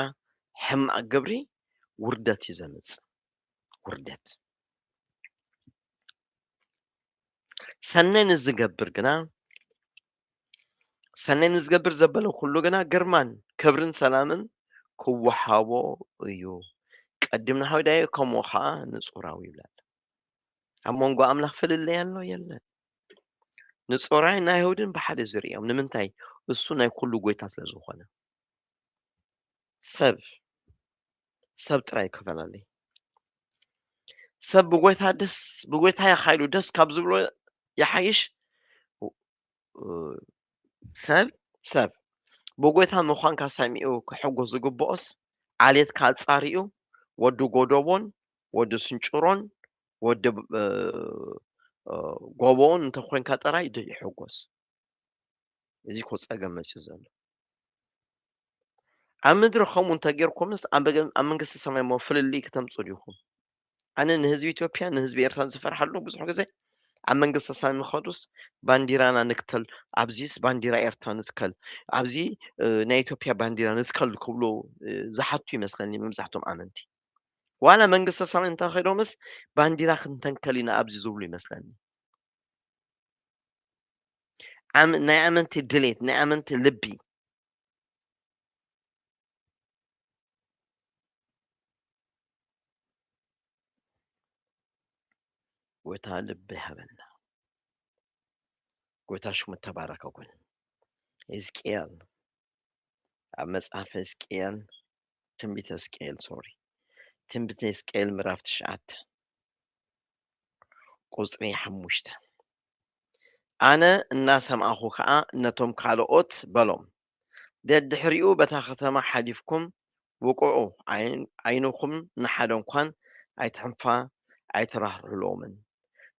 ሕማቅ ግብሪ ውርደት እዩ ዘምጽእ ውርደት ሰናይ ንዝገብር ግና ሰናይ ንዝገብር ዘበለ ኩሉ ግና ግርማን ክብርን ሰላምን ክወሃቦ እዩ ቀዲምና ሃውዳየ ከምኡ ከዓ ንፁራዊ ይብላል ኣብ መንጎ ኣምላኽ ፍልለይ ኣሎ የለን ንፁራይ ናይ ይሁድን ብሓደ ዝርእዮም ንምንታይ እሱ ናይ ኩሉ ጎይታ ስለ ዝኾነ ሰብ ሰብ ጥራይ ክፈለኒ ሰብ ብጎይታ ደስ ብጎይታ ይካይዱ ደስ ካብ ዝብሎ ይሓይሽ ሰብ ሰብ ብጎይታ ምዃንካ ሰሚኡ ክሕጎስ ዝግብኦስ ዓሌትካ ኣጻሪኡ ወዲ ጎደቦን ወዲ ስንጭሮን ወዲ ጎቦን እንተኮንካ ጥራይ ይሕጎስ እዚ ኮ ጸገም መጽዩ ዘሎ ኣብ ምድሪ ከምኡ እንተጌርኩምስ ኣብ መንግስቲ ሰማይ እሞ ፍልልይ ክተምፁ ዲኹም? ኣነ ንህዝቢ ኢትዮጵያ ንህዝቢ ኤርትራ ዝፈርሓሉ ብዙሕ ግዜ ኣብ መንግስቲ ሰማይ ንኸዱስ ባንዲራና ንክተል ኣብዚስ ባንዲራ ኤርትራ ንትከል ኣብዚ ናይ ኢትዮጵያ ባንዲራ ንትከል ክብሉ ዝሓቱ ይመስለኒ መብዛሕቶም ኣመንቲ ዋላ መንግስቲ ሰማይ እንተኸዶምስ ባንዲራ ክንተንከል ኢና ኣብዚ ዝብሉ ይመስለኒ ናይ ኣመንቲ ድሌት ናይ ኣመንቲ ልቢ ጎይታ ልቢ ሃበና ጎይታ ሽሙ ተባረከ ኩን ህዝቅኤል ኣብ መጽሓፍ ህዝቅኤል ትንቢተ ህዝቅኤል ሶሪ ትንቢተ ህዝቅኤል ምዕራፍ ትሽዓተ ቍጽሪ ሓሙሽተ። ኣነ እናሰማዕኩ ኸኣ ነቶም ካልኦት በሎም፣ ደድሕሪኡ በታ ኸተማ ሓሊፍኩም ውቅዑ፣ ዓይንኹም ንሓደ እንኳን ኣይትሕንፋ ኣይትራህርህሎምን፣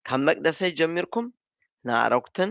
ካብ መቅደሰይ ጀሚርኩም ንኣረጉትን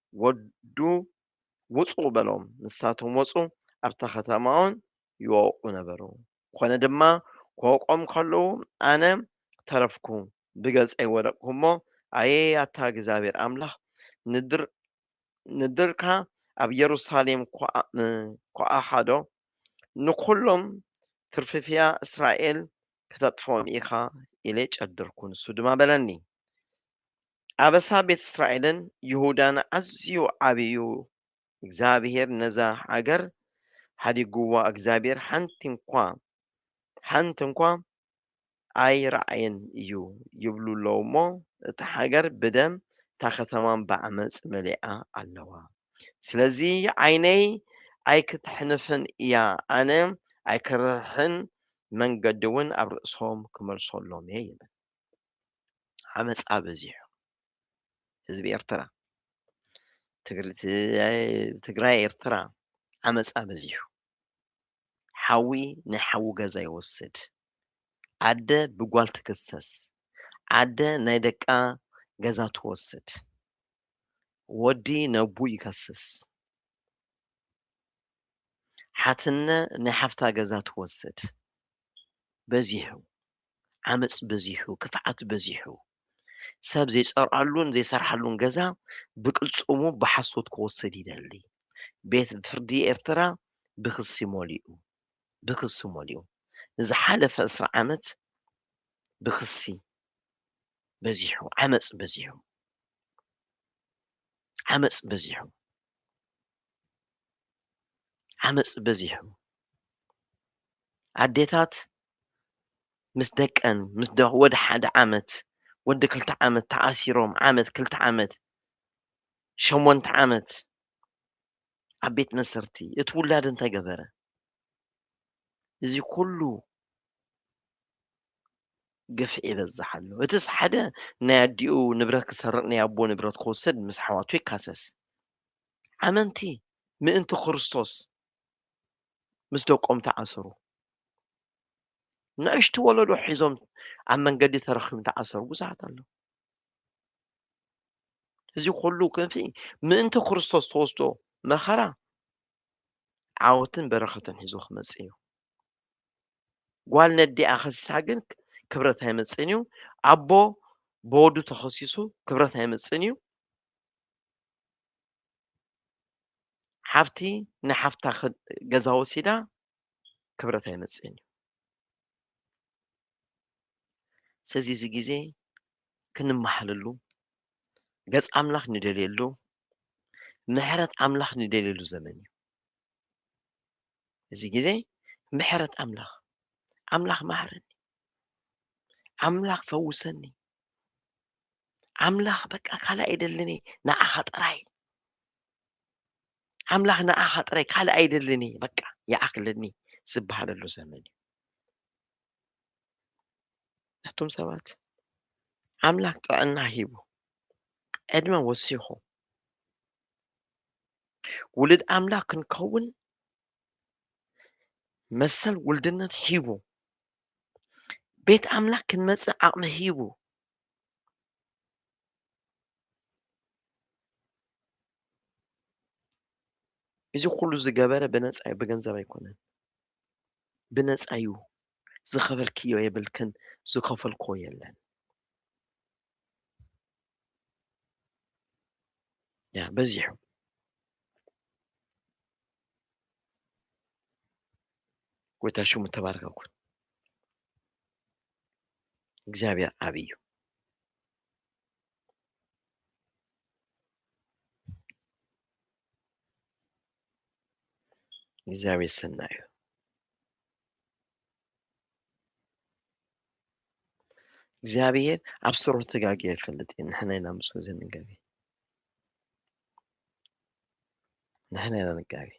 ወዱ ውጹ በሎም። ንሳቶም ወጹ፣ ኣብታ ኸተማውን ይወቕዑ ነበሩ። ኰነ ድማ፣ ክወቕዖም ከለዉ፣ ኣነ ተረፍኩ፣ ብገጸይ ወደቕኩ እሞ፣ ኣየ ኣታ እግዚኣብሄር ኣምላኽ፣ ንድርካ ኣብ የሩሳሌም ኰኣሓዶ፣ ንዅሎም ትርፍፍያ እስራኤል ክተጥፍኦም ኢኻ፣ ኢለ ጨደርኩ። ንሱ ድማ በለኒ። ኣበሳ ቤት እስራኤልን ይሁዳን ኣዝዩ ዓብይ እዩ። እግዚኣብሄር ነዛ ሃገር ሓዲግዋ እግዚኣብሄር ሓንቲ እንኳ ሓንቲ እንኳ ኣይረኣየን እዩ ይብሉ ኣለዉ እሞ እታ ሃገር ብደም እታ ከተማን ብዓመፅ መሊኣ ኣለዋ። ስለዚ ዓይነይ ኣይክተሕንፍን እያ ኣነ ኣይክርሕን መንገዲ እውን ኣብ ርእሶም ክመልሶሎም እየ ይብል። ዓመጻ በዚሑ ህዝቢ ኤርትራ ትግራይ ኤርትራ ዓመጻ በዚሑ ሓዊ ናይ ሓዊ ገዛ ይወስድ ኣደ ብጓል ትክሰስ ኣደ ናይ ደቃ ገዛ ትወስድ ወዲ ነቡ ይከስስ ሓትነ ናይ ሓፍታ ገዛ ትወስድ በዚሑ ዓመጽ በዚሑ፣ ክፍዓት በዚሑ፣ ሰብ ዘይጸርኣሉን ዘይሰርሓሉን ገዛ ብቅልጽሙ ብሓሶት ክወስድ ይደሊ። ቤት ፍርዲ ኤርትራ ብክሲ ሞሊኡ። ብክሲ ሞሊኡ። ንዝሓለፈ ዕስራ ዓመት ብክሲ በዚሑ፣ ዓመጽ በዚሑ። ዓመጽ በዚሑ። ዓመጽ በዚሑ። ኣዴታት ምስ ደቀን ምስ ወዲ ሓደ ዓመት ወዲ ክልተ ዓመት ተኣሲሮም ዓመት ክልተ ዓመት ሸሞንተ ዓመት ኣብ ቤት መስርቲ እቲ ውላድ እንታይ ገበረ? እዚ ኩሉ ግፍዒ ይበዝሕ ኣሎ። እቲስ ሓደ ናይ ኣዲኡ ንብረት ክሰርቕ ናይ ኣቦ ንብረት ክወስድ ምስ ኣሕዋቱ ይካሰስ። ኣመንቲ ምእንቲ ክርስቶስ ምስ ደቆም ተኣሰሩ። ንእሽቲ ወለዶ ሒዞም ኣብ መንገዲ ተረኪቡ ተኣሰሩ ብዙሓት ኣሎ እዚ ኩሉ ክንፊ ምእንቲ ክርስቶስ ተወስዶ መኸራ ዓወትን በረኸትን ሒዞ ክመፅእ እዩ ጓል ነዲኣ ከሲሳ ግን ክብረት ኣይመፅእን እዩ ኣቦ ብወዱ ተኸሲሱ ክብረት ኣይመፅእን እዩ ሓፍቲ ንሓፍታ ገዛ ወሲዳ ክብረት ኣይመፅእን እዩ ስለዚ እዚ ግዜ ክንመሓለሉ ገፅ ኣምላኽ ንደልየሉ ምሕረት ኣምላኽ ንደልየሉ ዘመን እዩ እዚ ግዜ ምሕረት ኣምላኽ ኣምላኽ ማሕረኒ ኣምላኽ ፈውሰኒ ኣምላኽ በቃ ካልእ ኣይደልን እየ ንዓኻ ጥራይ ኣምላኽ ንዓኻ ጥራይ ካልእ ኣይደልን እየ በቃ ይኣኽለኒ ዝበሃለሉ ዘመን እዩ ነቶም ሰባት ኣምላኽ ጥዕና ሂቡ ዕድመ ወሲኹ ውሉድ ኣምላኽ ክንከውን መሰል ውልድነት ሂቡ ቤት ኣምላኽ ክንመጽእ ዓቕሚ ሂቡ እዚ ኩሉ ዝገበረ ብነፃ እዩ ብገንዘብ ኣይኮነን ብነፃ እዩ ዝኸፈልክዮ የብልክን ዝኸፈልኮ የለን ያ በዚሑ ጎይታ ሽሙ ተባረከ ኩን እግዚኣብሔር ዓብ እዩ እግዚኣብሔር ሰና እዩ እግዚኣብሔር ኣብ ስሩ ተጋጊ ኣይፈልጥ እዩ ንሕና ኢና ምስ ዘንገቢ ንሕና ኢና ንጋገ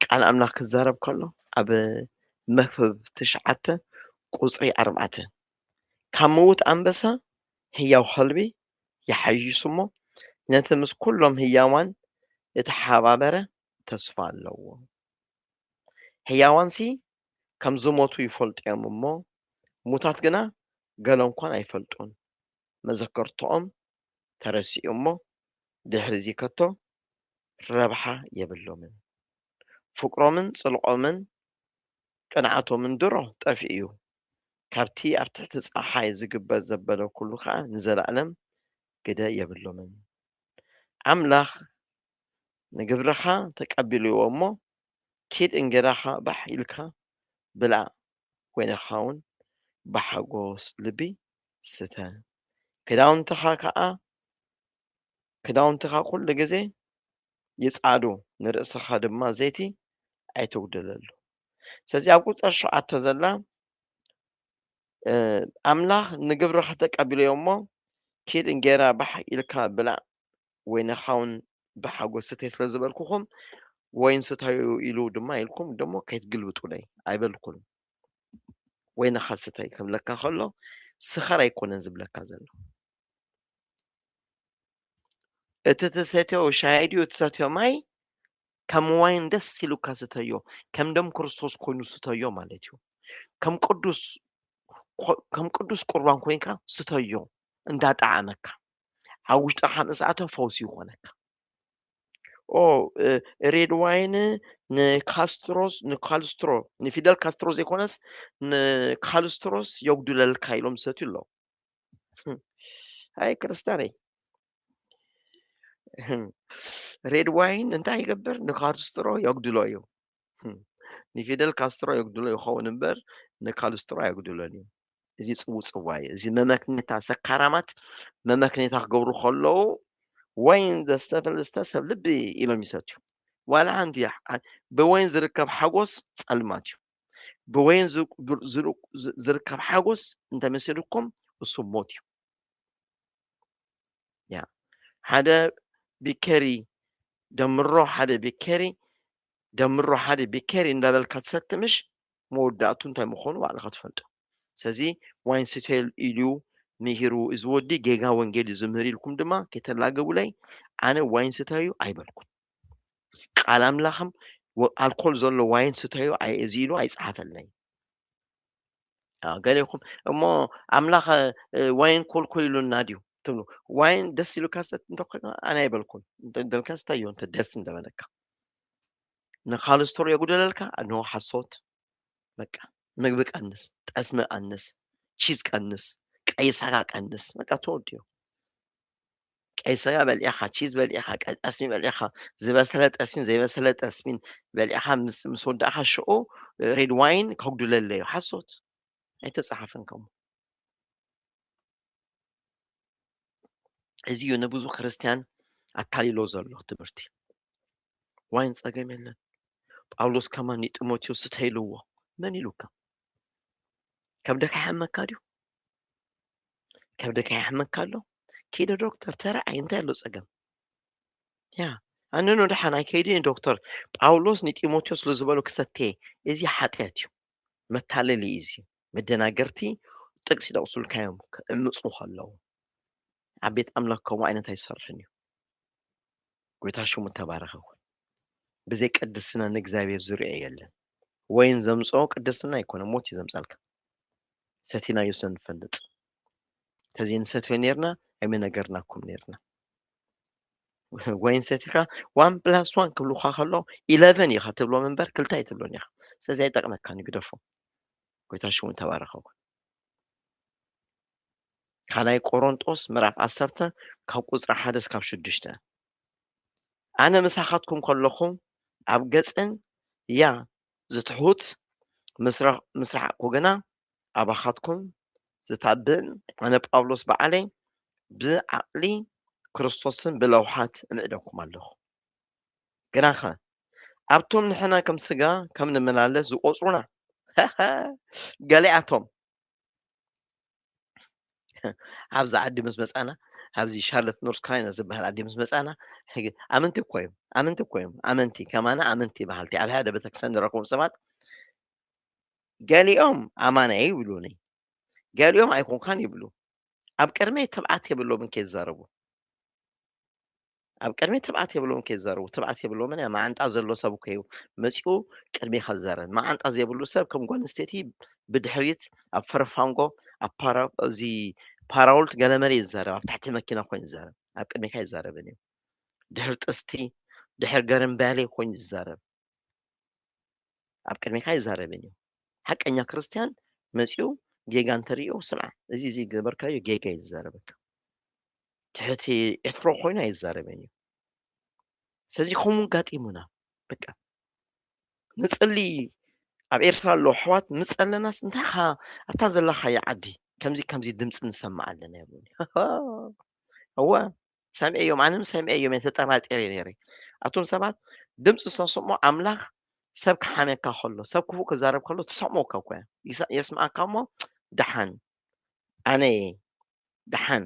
ቃል ኣምላኽ ክዛረብ ከሎ ኣብ መክብብ ትሽዓተ ቁፅሪ ኣርባዕተ ካብ ምዉት ኣንበሳ ህያው ከልቢ ይሓይሽ እሞ ነቲ ምስ ኩሎም ህያዋን እተሓባበረ ተስፋ ኣለዎ ሕያዋንሲ ከም ዝሞቱ ይፈልጡ እዮም እሞ፣ ሙታት ግና ገለ እንኳን ኣይፈልጡን። መዘከርትኦም ተረሲዑ እሞ፣ ድሕርዚ ከቶ ረብሓ የብሎምን። ፍቅሮምን ጽልኦምን ቅንዓቶምን ድሮ ጠፊኡ እዩ። ካብቲ ኣብ ትሕቲ ጸሓይ ዝግበር ዘበለ ኩሉ ከኣ ንዘለኣለም ግደ የብሎምን። ኣምላኽ ንግብርኻ ተቀቢልዎ እሞ ኪድ እንጌራኻ ባሕ ኢልካ ብላዕ ኮይንኻውን ብሓጎስ ልቢ ስተ ክዳውንትኻ ከኣ ክዳውንትኻ ኩሉ ግዜ ይጻዱ ንርእስኻ ድማ ዘይቲ ኣይተጉድለሉ ስለዚ ኣብ ቁጽሪ ሸውዓተ ዘላ ኣምላኽ ንግብርኻ ተቀቢልዎ እሞ ኪድ እንጌራ ባሕ ኢልካ ብላዕ ወይነ ኻውን ብሓጎስ ስተይ ስለ ዝበልኩኹም ወይን ስታዩ ኢሉ ድማ ኢልኩም ደሞ ከይትግልብጡለይ ኣይበልኩን ወይነኻ ስታይ ክብለካ ከሎ ስኸር ኣይኮነን ዝብለካ ዘሎ እቲ ትሰትዮ ሻሂ ድዩ ትሰትዮ ማይ ከም ዋይን ደስ ኢሉካ ስተዮ ከም ደም ክርስቶስ ኮይኑ ስተዮ ማለት እዩ ከም ቅዱስ ከም ቅዱስ ቁርባን ኮይንካ ስተዮ እንዳጣዓመካ ኣብ ውሽጢ ሓምስ ኣቶ ፈውሲ ይኾነካ ሬድ ዋይን ንካስትሮስ ንካልስትሮ ንፊደል ካስትሮ ዘይኮነስ ንካልስትሮስ የጉድለልካ ኢሎም ዝሰትዩ ኣለዉ ኣይ ክርስትያነይ ሬድ ዋይን እንታይ ይገብር ንካልስትሮ የጉድሎ እዩ ንፊደል ካስትሮ የጉድሎ ይኸውን እምበር ንካልስትሮ ኣየጉድሎን እዩ። እዚ ፅውፅዋ እዩ። እዚ መመክኔታ ሰካራማት መመክኔታ ክገብሩ ከለዉ ወይን ዘስተፈል ዝስተ ሰብ ልቢ ኢሎም ይሰትዩ። ዋላ ሓንቲ ብወይን ዝርከብ ሓጎስ ፀልማት እዩ። ብወይን ዝርከብ ሓጎስ እንተመሲልኩም እሱ ሞት እዩ። ሓደ ቢኬሪ ደምሮ ሓደ ቢኬሪ ደምሮ ሓደ ቢኬሪ እንዳበልካ ትሰቲ ምሽ መወዳእቱ እንታይ ምኮኑ ባዕልካ ትፈልጦ ሰዚ ዋይን ስተይል ኢሉ ሚሂሩ እዚ ወዲ ጌጋ ወንጌል እዩ ዝምህር ኢልኩም ድማ ከይተላገቡለይ ኣነ ዋይን ስተዩ ኣይበልኩን ቃል ኣምላክም ኣልኮል ዘሎ ዋይን ስተዩ እዚ ኢሉ ኣይጸሓፈልይ ገሌኩም እሞ ኣምላክ ዋይን ኮልኮል ኢሉና ድዩ ትብሉ ዋይን ደስ ኢሉካ ሰት እንተኮይኑ ኣነ ኣይበልኩን ደልካ ስታዮ እንተ ደስ እንደበለካ ንካልስትሮ የጉደለልካ ኖ ሓሶት በቃ ምግቢ ቀንስ ጠስሚ ቀንስ ቺዝ ቀንስ ቀይ ስጋ ቀንስ በቃ ተወዲዮ ቀይ ስጋ በሊዕኻ ቺዝ በሊዕኻ ጠስሚ በሊዕኻ ዝበሰለ ጠስሚን ዘይበሰለ ጠስሚን በሊዕኻ ምስ ምስ ወዳእኻ ሽዑ ሬድ ዋይን ከጉድለለዩ ሓሶት ኣይተፀሓፈን ከምኡ እዚ እዩ ንብዙ ክርስትያን ኣታሊሎ ዘሎ ትምህርቲ ዋይን ጸገም የለን ጳውሎስ ከማ ንጢሞቴዎስ ስተይልዎ መን ኢሉካ ከብደካ ይሓመካ ድዩ ከብደካ ይሓመካ ኣሎ ከይደ ዶክተር ተረኣይ እንታይ ኣሎ ጸገም ያ ኣነኖ ደሓን ኣይከይዲ ዶክተር ጳውሎስ ንጢሞቴዎስ ስለዝበሎ ክሰቴ እዚ ሓጢኣት እዩ መታለሊ እዩ መደናገርቲ ጥቅሲ ይጠቅሱልካ እዮም ክዕምፁ ከለው ኣብ ቤት ኣምላክ ከምኡ ዓይነት ኣይሰርሕን እዩ ጎይታ ሽሙ ተባረኸ ይኹን ብዘይ ቅድስና ንእግዚኣብሔር ዝርኦ የለን ወይን ዘምፅኦ ቅድስና ኣይኮነ ሞት እዩ ዘምፃልካ ሰቲናዮ ስለንፈልጥ ተዘይ ንሰትዮ ነርና ኣይመነገርናኩም ነርና ወይን ሰቲኻ ዋን ፕላስ ዋን ክብልካ ከሎ ኢለቨን ኢኻ ትብሎም እምበር ክልተ ኣይትብሎን ኢኻ ስለዚ ኣይጠቅመካን እዩ ግደፎ ጎይታ ሽሙ ተባረኸ ይኹን። ካልኣይ ቆሮንጦስ ምዕራፍ ዓሰርተ ካብ ቁፅሪ ሓደ እስካብ ሽዱሽተ ኣነ ምሳኻትኩም ከለኹ ኣብ ገፅን ያ ዝትሑት ምስ ረሓቕኩ ግና ኣባኻትኩም ዝታብእን ኣነ ጳውሎስ በዓለይ ብዓቕሊ ክርስቶስን ብለውሓት እምዕደኩም ኣለኹ። ግናኸ ኣብቶም ንሕና ከም ስጋ ከም ንመላለስ ዝቆጽሩና ገሊኣቶም ኣብዚ ዓዲ ምስ መፃና ኣብዚ ሻርለት ኖርስ ክራይና ዝበሃል ዓዲ ምስ መፃና ኣመንቲ እኮ እዮም ኣመንቲ እኮ እዮም ኣመንቲ ከማና ኣመንቲ በሃልቲ ኣብ ሓደ ቤተክርስትያን ንረክቦም ሰባት ገሊኦም ኣማና ይብሉኒ ገሊኦም ኣይኮንካን ይብሉ ኣብ ቅድመይ ትብዓት የብሎምን ከይዛረቡ ኣብ ቅድሚ ትብዓት የብሎምን ከይዘረቡ ትብዓት የብሎምን እያ መዓንጣ ዘሎ ሰብ እኮ እዩ መፂኡ ቅድሜኻ ዝዘረን መዓንጣ ዘይብሉ ሰብ ከም ጓል ኣንስተይቲ ብድሕሪት ኣብ ፈረፋንጎ ኣብ ፓራ እዚ ፓራውልት ገለመለ እዩ ዝዘረብ ኣብ ትሕቲ መኪና ኮይኑ ዝዘረብ ኣብ ቅድሜካ ይዛረብን እዩ ድሕሪ ጥስቲ ድሕሪ ገርምባሌ ኮይኑ ዝዛረብ ኣብ ቅድሚካ ይዛረብን እዩ ሓቀኛ ክርስትያን መፅኡ ጌጋ እንተሪኦ ስምዓ እዚ እዚ ገበርካዮ ጌጋ እዩ ዝዛረበካ ትሕቲ ኤትሮ ኮይኑ ኣይዛረብን እዩ ስለዚ ከምኡ ጋጢሙና በቃ ንፅሊ ኣብ ኤርትራ ኣሎ ኣሕዋት ምስ ጸለናስ እንታይኻ ኣብታ ዘለኻዮ ዓዲ ከምዚ ከምዚ ድምፂ ንሰማዕ ኣለና ይብሉኒ እወ ሰምዔዮም ኣነ ም ሰምዔዮም እየ ተጠራጢረ እየ ነይረ ኣቱም ሰባት ድምፂ ዝተስሞ ኣምላኽ ሰብ ክሓነካ ከሎ ሰብ ክፉእ ክዛረብ ከሎ ትሰምዖ እካ እኮ እያ የስምዓካ እሞ ደሓን ኣነ እየ ደሓን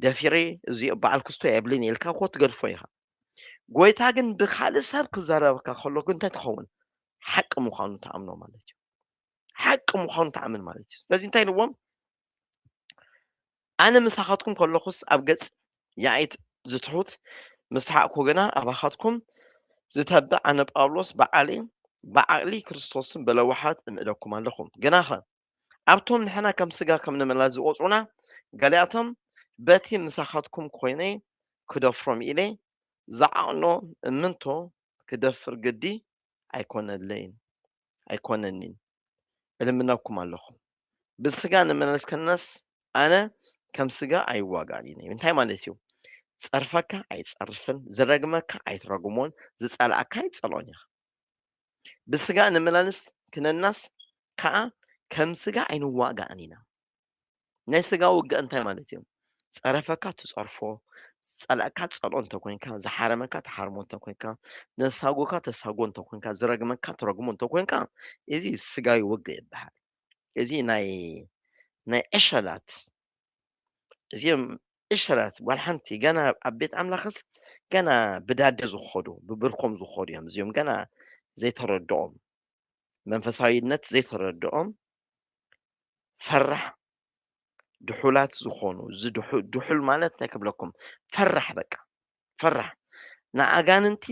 ደፊረ እዚኦ በዓል ክስቶ የብልን ኢልካ እኮ ትገድፎ ኢኻ ጎይታ ግን ብካልእ ሰብ ክዘረበካ ከሎ ግን እንታይ ትኸውን ሓቂ ምዃኑ ተኣምኖ ማለት እዩ ሓቂ ምዃኑ ተኣምን ማለት እዩ ስለዚ እንታይ ንዎም ኣነ ምሳኻትኩም ከለኹስ ኣብ ገጽ የኣይት ዝትሑት ምስ ሓቕኩ ግና ኣባኻትኩም ዝተብዕ ኣነ ጳውሎስ ብዓሊ ብዓቕሊ ክርስቶስን ብለዋሓት እምእደኩም ኣለኹ ግናኸ ኣብቶም ንሕና ከም ስጋ ከም ንመላ ዝቆጽሩና ገሊኣቶም በቲ ምሳኻትኩም ኮይነ ክደፍሮም ኢለ ዝዓቕኖ እምንቶ ክደፍር ግዲ ኣይኮነለይን ኣይኮነኒን እልምነኩም ኣለኹ ብስጋ ንመላለስ ከለናስ ኣነ ከም ስጋ ኣይዋጋእን እዩ እንታይ ማለት እዩ ጸርፈካ ኣይጸርፍን ዝረግመካ ኣይትረግሞን ዝጸላእካ ኣይትጸልኦን ኢኻ ብስጋ ንመላለስ ክነናስ ከዓ ከም ስጋ ኣይንዋጋእን ኢና ናይ ስጋ ውግእ እንታይ ማለት እዩ? ጸረፈካ ትጸርፎ፣ ዝጸልኣካ ትጸልኦ እንተ ኮንካ፣ ዝሓረመካ ትሓርሞ እንተ ኮንካ፣ ነሳጎካ ተሳጎ እንተ ኮንካ፣ ዝረግመካ ትረግሞ እንተ ኮንካ፣ እዚ ስጋዊ ውግእ ይበሃል። እዚ ናይ ናይ ዕሸላት እዚኦም ዕሸላት ጓል ሓንቲ ገና ኣብ ቤት ኣምላኽስ ገና ብዳደ ዝኸዱ ብብርኮም ዝኸዱ እዮም እዚኦም ገና ዘይተረድኦም መንፈሳዊነት ዘይተረድኦም ፈራሕ ድሑላት ዝኾኑ ድሑል ማለት እንታይ ክብለኩም ፈራሕ በቃ ፈራሕ ንኣጋንንቲ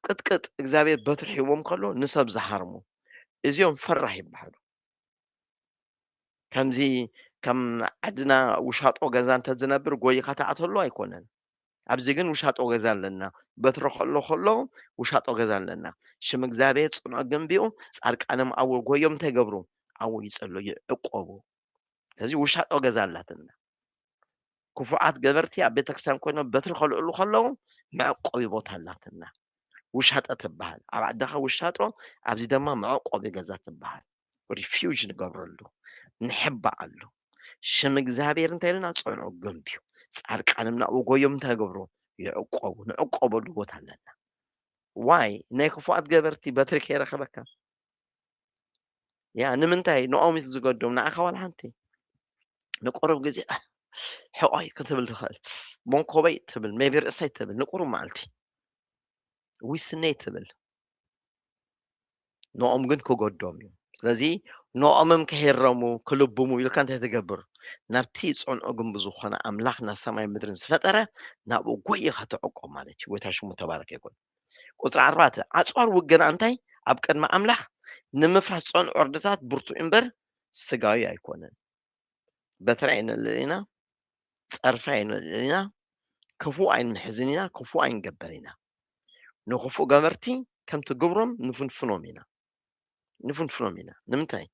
ቅጥቅጥ እግዚኣብሔር በትሪ ሒቦም ከሎ ንሰብ ዝሃርሙ እዚኦም ፈራሕ ይበሃሉ ከምዚ ከም ዓድና ውሻጦ ገዛ እንተዝነብር ጎይኻ ተኣተሉ ኣይኮነን ኣብዚ ግን ውሻጦ ገዛ ኣለና በትሪ ከሎ ከሎ ውሻጦ ገዛ ኣለና ሽም እግዚኣብሔር ጽኑዕ ግንቢኡ ጻድቃንም ኣው ጎዮም እንታይ ገብሩ ኣው ይጸሎ ይዕቆቡ ስለዚ ውሻጦ ገዛ ኣላትና ክፉዓት ገበርቲ ኣብ ቤተክርስትያን ኮይኖም በትሪ ከልዕሉ ከለዉ መዕቆቢ ቦታ ኣላትና ውሻጠ ትበሃል ኣብ ዓድኻ ውሻጦ ኣብዚ ድማ መዕቆቢ ገዛ ትበሃል ሪፊውጅ ንገብረሉ ንሕባኣሉ ሽም እግዚኣብሔር እንታይ ኢሉና ፀንዑ ገንብዩ ፃድቃንም ናብኡ ጎዮም እንታይ ገብሩ ይዕቆቡ ንዕቆበሉ ቦታ ኣለና ዋይ ናይ ክፉኣት ገበርቲ በትሪ ከይረኸበካ ያ ንምንታይ ንኦም ዝገዶም ንዓኻ ዋላ ሓንቲ ንቁሩብ ግዜ ሕቆይ ክትብል ትኽእል መንኮበይ ትብል ሜቢ ርእሰይ ትብል ንቁሩብ መዓልቲ ዊስነይ ትብል ንኦም ግን ክጎዶም እዩ ስለዚ ንኦምም ክሂረሙ ክልብሙ ኢልካ እንታይ ትገብር ናብቲ ፅንዑ ግንቢ ዝኾነ ኣምላኽ ና ሰማይ ምድርን ዝፈጠረ ናብኡ ጎይኻ ተዕቆ ማለት እዩ ወይታ ሽሙ ተባረከ ይኩን ቁፅሪ ኣርባዕተ ዓፅዋር ውገና እንታይ ኣብ ቅድሚ ኣምላኽ ንምፍራስ ፀንዑ ዕርድታት ብርቱ እምበር ስጋዊ ኣይኮነን በትሪ ኣይነልዕል ኢና፣ ጸርፊ ኣይነልዕል ኢና፣ ክፉእ ኣይንሕዝን ኢና፣ ክፉእ ኣይንገብር ኢና። ንክፉእ ገበርቲ ከምቲ ግብሮም ንፍንፍኖም ኢና ንፍንፍኖም ኢና። ንምንታይ?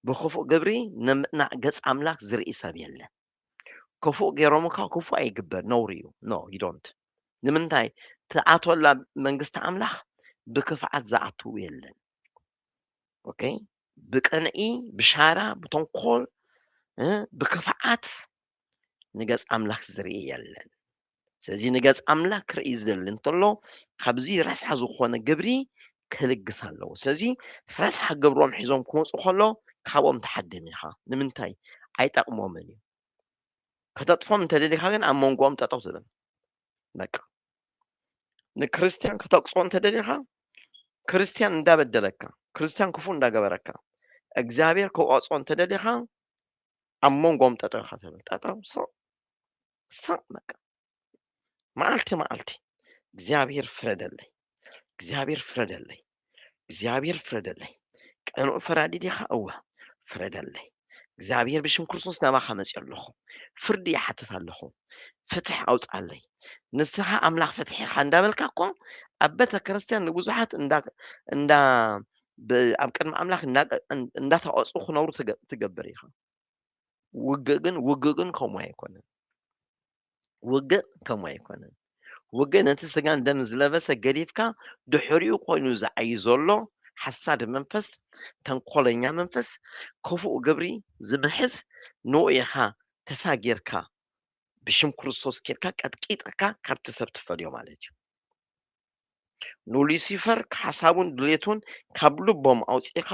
ብክፉእ ግብሪ ንምእናዕ ገጽ ኣምላኽ ዝርኢ ሰብ የለን። ክፉእ ገይሮምካ ክፉእ ኣይግበር ነውሪ እዩ። ኖ ይዶንት ንምንታይ ትኣትወላ መንግስቲ ኣምላኽ ብክፍዓት ዝኣትው የለን። ኦኬ ብቅንኢ ብሻራ ብተንኮል እ ብክፍዓት ንገጽ ኣምላኽ ዝርኢ የለን ስለዚ ንገጽ ኣምላኽ ክርኢ ዝደሊ እንተሎ ካብዚ ረስሓ ዝኾነ ግብሪ ክልግስ ኣለዎ ስለዚ ረስሓ ግብሮም ሒዞም ክመፁ ከሎ ካብኦም ተሓድም ኢኻ ንምንታይ ኣይጠቕሞምን እዩ ከተጥፎም እንተደሊኻ ግን ኣብ መንጎኦም ጠጠው ትብል በቃ ንክርስትያን ክተቅጾ እንተደሊኻ ክርስትያን እንዳበደለካ ክርስትያን ክፉ እንዳገበረካ እግዚኣብሔር ክቆጾ እንተደሊኻ ኣብ መንጎም ጠጠው ኢኻ ትብል ጠጠው ሰቕ ሰቕ በቃ መዓልቲ መዓልቲ እግዚኣብሔር ፍረደለይ እግዚኣብሔር ፍረደለይ እግዚኣብሔር ፍረደለይ ቀኑእ ፈራዲ ዲኻ እወ ፍረደለይ እግዚኣብሔር ብሽም ክርስቶስ ናባኻ መፅኦ ኣለኹ ፍርዲ ይሓትት ኣለኹ ፍትሕ ኣውፅኣለይ ንስኻ ኣምላኽ ፍትሒ ኢኻ እንዳበልካ እኮ ኣብ ቤተ ክርስቲያን ንብዙሓት እንዳ ኣብ ቅድሚ ኣምላኽ እንዳተቐፁ ክነብሩ ትገብር ኢኻ ውግእ ግን ውግእ ግን ከምኡ ኣይኮነን ውግእ ከምኡ ኣይኮነን ውግእ ነቲ ስጋን ደም ዝለበሰ ገዲፍካ ድሕሪኡ ኮይኑ ዝዓይ ዘሎ ሓሳድ መንፈስ ተንኮለኛ መንፈስ ክፉእ ግብሪ ዝምሕዝ ንኡ ኢኻ ተሳጊርካ ብሽም ክርስቶስ ኬድካ ቀጥቂጥካ ካብቲ ሰብ ትፈልዮ ማለት እዩ ንሉሲፈር ሓሳቡን ድሌቱን ካብ ልቦም ኣውፂእኻ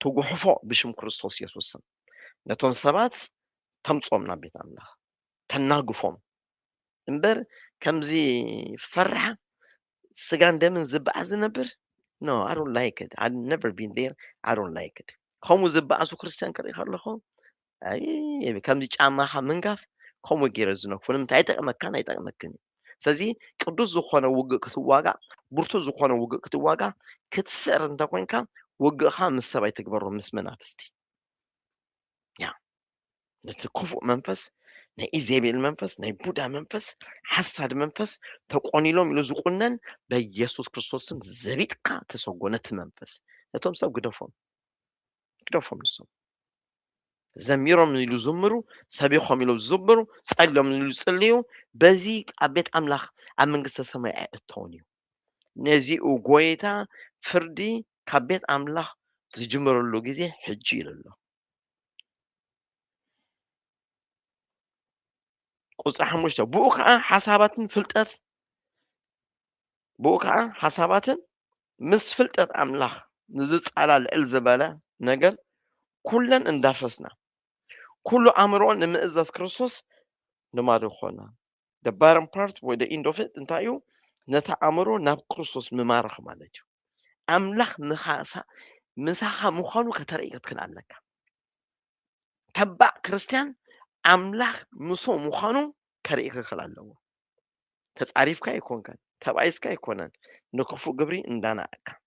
ትጉሕፎ ብሽም ክርስቶስ የሱስን ነቶም ሰባት ተምፆም ናብ ቤት ኣምላኽ ተናግፎም እምበር ከምዚ ፈራሕ ስጋን ደምን ዝበዓስ ዝነብር ኖ ኣይ ዶንት ላይክ ኢት ኣይ ነቨር ቢን ዴር ኣይ ዶንት ላይክ ኢት ከምኡ ዝበኣሱ ክርስትያን ክርኢ ከለኹ ኣይ ከምዚ ጫማኻ ምንጋፍ ከምኡ ገይረ ዝነክፉ ንምንታይ ኣይጠቕመካን ኣይጠቕመክን እዩ ስለዚ ቅዱስ ዝኾነ ውግእ ክትዋጋእ ብርቱ ዝኾነ ውግእ ክትዋጋእ ክትስዕር እንተኮይንካ ውግእኻ ምስ ሰብ ኣይትግበሮ ምስ መናፍስቲ ያ ነቲ ክፉእ መንፈስ ናይ ኢዜቤል መንፈስ ናይ ቡዳ መንፈስ ሓሳድ መንፈስ ተቆኒሎም ኢሉ ዝቁነን በኢየሱስ ክርስቶስም ዘቢጥካ ተሰጎ ነቲ መንፈስ ነቶም ሰብ ግደፎም ግደፎም ንሶም ዘሚሮም ኢሉ ዝምሩ ሰቢኾም ኢሉ ዝዝምሩ ጸልዮም ኢሉ ዝጽልዩ በዚ ኣብ ቤት ኣምላኽ ኣብ መንግስተ ሰማይ ኣይእተውን እዩ ነዚኡ ጎይታ ፍርዲ ካብ ቤት ኣምላኽ ዝጅምረሉ ግዜ ሕጂ ኢሉ ኣሎ ቁፅሪ ሓሙሽተ ብኡ ከዓ ሓሳባትን ፍልጠት ብኡ ከዓ ሓሳባትን ምስ ፍልጠት ኣምላኽ ንዝፃላ ልዕል ዝበለ ነገር ኩለን እንዳፈስና ኩሉ ኣእምሮ ንምእዛዝ ክርስቶስ ልማዱ ኮና the bottom part ወይ the end of it እንታይ እዩ ነታ ኣእምሮ ናብ ክርስቶስ ምማራኽ ማለት እዩ ኣምላኽ ምኻሳ ምሳኻ ምዃኑ ከተርኢ ክትክእል ኣለካ ተባዕ ክርስትያን ኣምላኽ ምሶ ምዃኑ ከርኢ ክኽእል ኣለዎ ተጻሪፍካ ኣይኮንካን ተባኢስካ ኣይኮነን ንክፉእ ግብሪ እንዳናእካ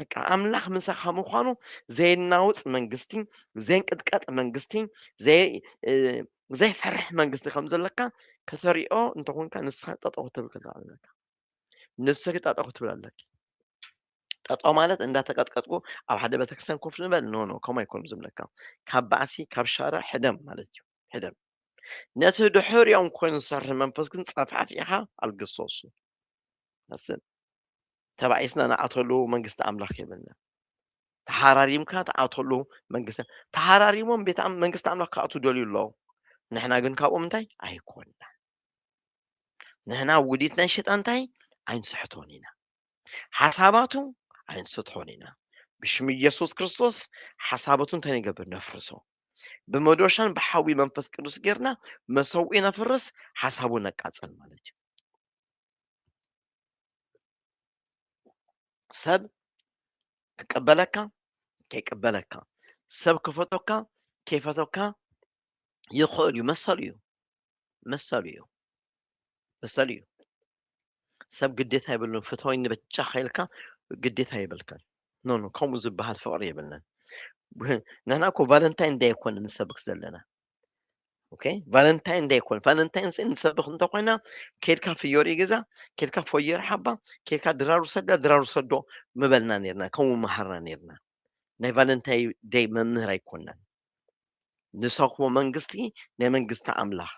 በቃ ኣምላኽ ምሳኻ ምዃኑ ዘይናውፅ መንግስቲ ዘይንቅጥቀጥ መንግስቲ ዘይፈርሕ መንግስቲ ከም ዘለካ ከተሪኦ እንተኾንካ ንስኻ ጠጠው ክትብል ክትብል ኣለካ ንስኺ ጠጠው ክትብል ኣለኪ ጠጠው ማለት እንዳተቀጥቀጥኩ ኣብ ሓደ ቤተክርስትያን ኮፍ ንበል ኖ ኖ ከምኡ ኣይኮኑ ዝብለካ ካብ ባእሲ ካብ ሻረ ሕደም ማለት እዩ ሕደም ነቲ ድሕሪኦም ኮይኑ ዝሰርሕ መንፈስ ግን ፀፋፊኻ ኣልግሶሱ ተባኢስና ንኣተሉ መንግስቲ ኣምላኽ የብልናን። ተሓራሪምካ ትኣተሉ መንግስቲ ተሓራሪሞም ቤት መንግስቲ ኣምላኽ ክኣትዉ ደልዩ ኣለዉ። ንሕና ግን ካብኦም እንታይ ኣይኮንና ንሕና ውዲት ናይ ሸጣን እንታይ ኣይንስሕቶን ኢና ሓሳባቱ ኣይንስቶን ኢና ብሽም ኢየሱስ ክርስቶስ ሓሳባቱ እንታይ ንገብር ነፍርሶ ብመዶሻን ብሓዊ መንፈስ ቅዱስ ጌርና መሰውኢ ነፍርስ ሓሳቡ ነቃፀል ማለት እዩ ሰብ ክቀበለካ ከይቀበለካ ሰብ ክፈቶካ ከይፈቶካ ይኽእል እዩ መሰሉ እዩ መሰሉ እዩ መሰሉ እዩ ሰብ ግዴታ የብሉን ፍትወይኒ ብቻ ከኢልካ ግዴታ የብልካን ኖ ኖ ከምኡ ዝበሃል ፍቕሪ የብልናን ንሕና እኮ ቫለንታይን ዳይ ኣይኮነን ንሰብክ ዘለና ኦኬ ቫለንታይን ደይ ኮን ቫለንታይን ስእን ንሰብኽ እንተኾይና ኬድካ ፍዮሪ ገዛ ኬድካ ፎየር ሓባ ኬድካ ድራሩ ሰዳ ድራሩ ሰዶ ምበልና ነርና ከምኡ መሃርና ነርና ናይ ቫለንታይ ደይ መምህር ኣይኮናን ንሰኽዎ መንግስቲ ናይ መንግስቲ ኣምላኽ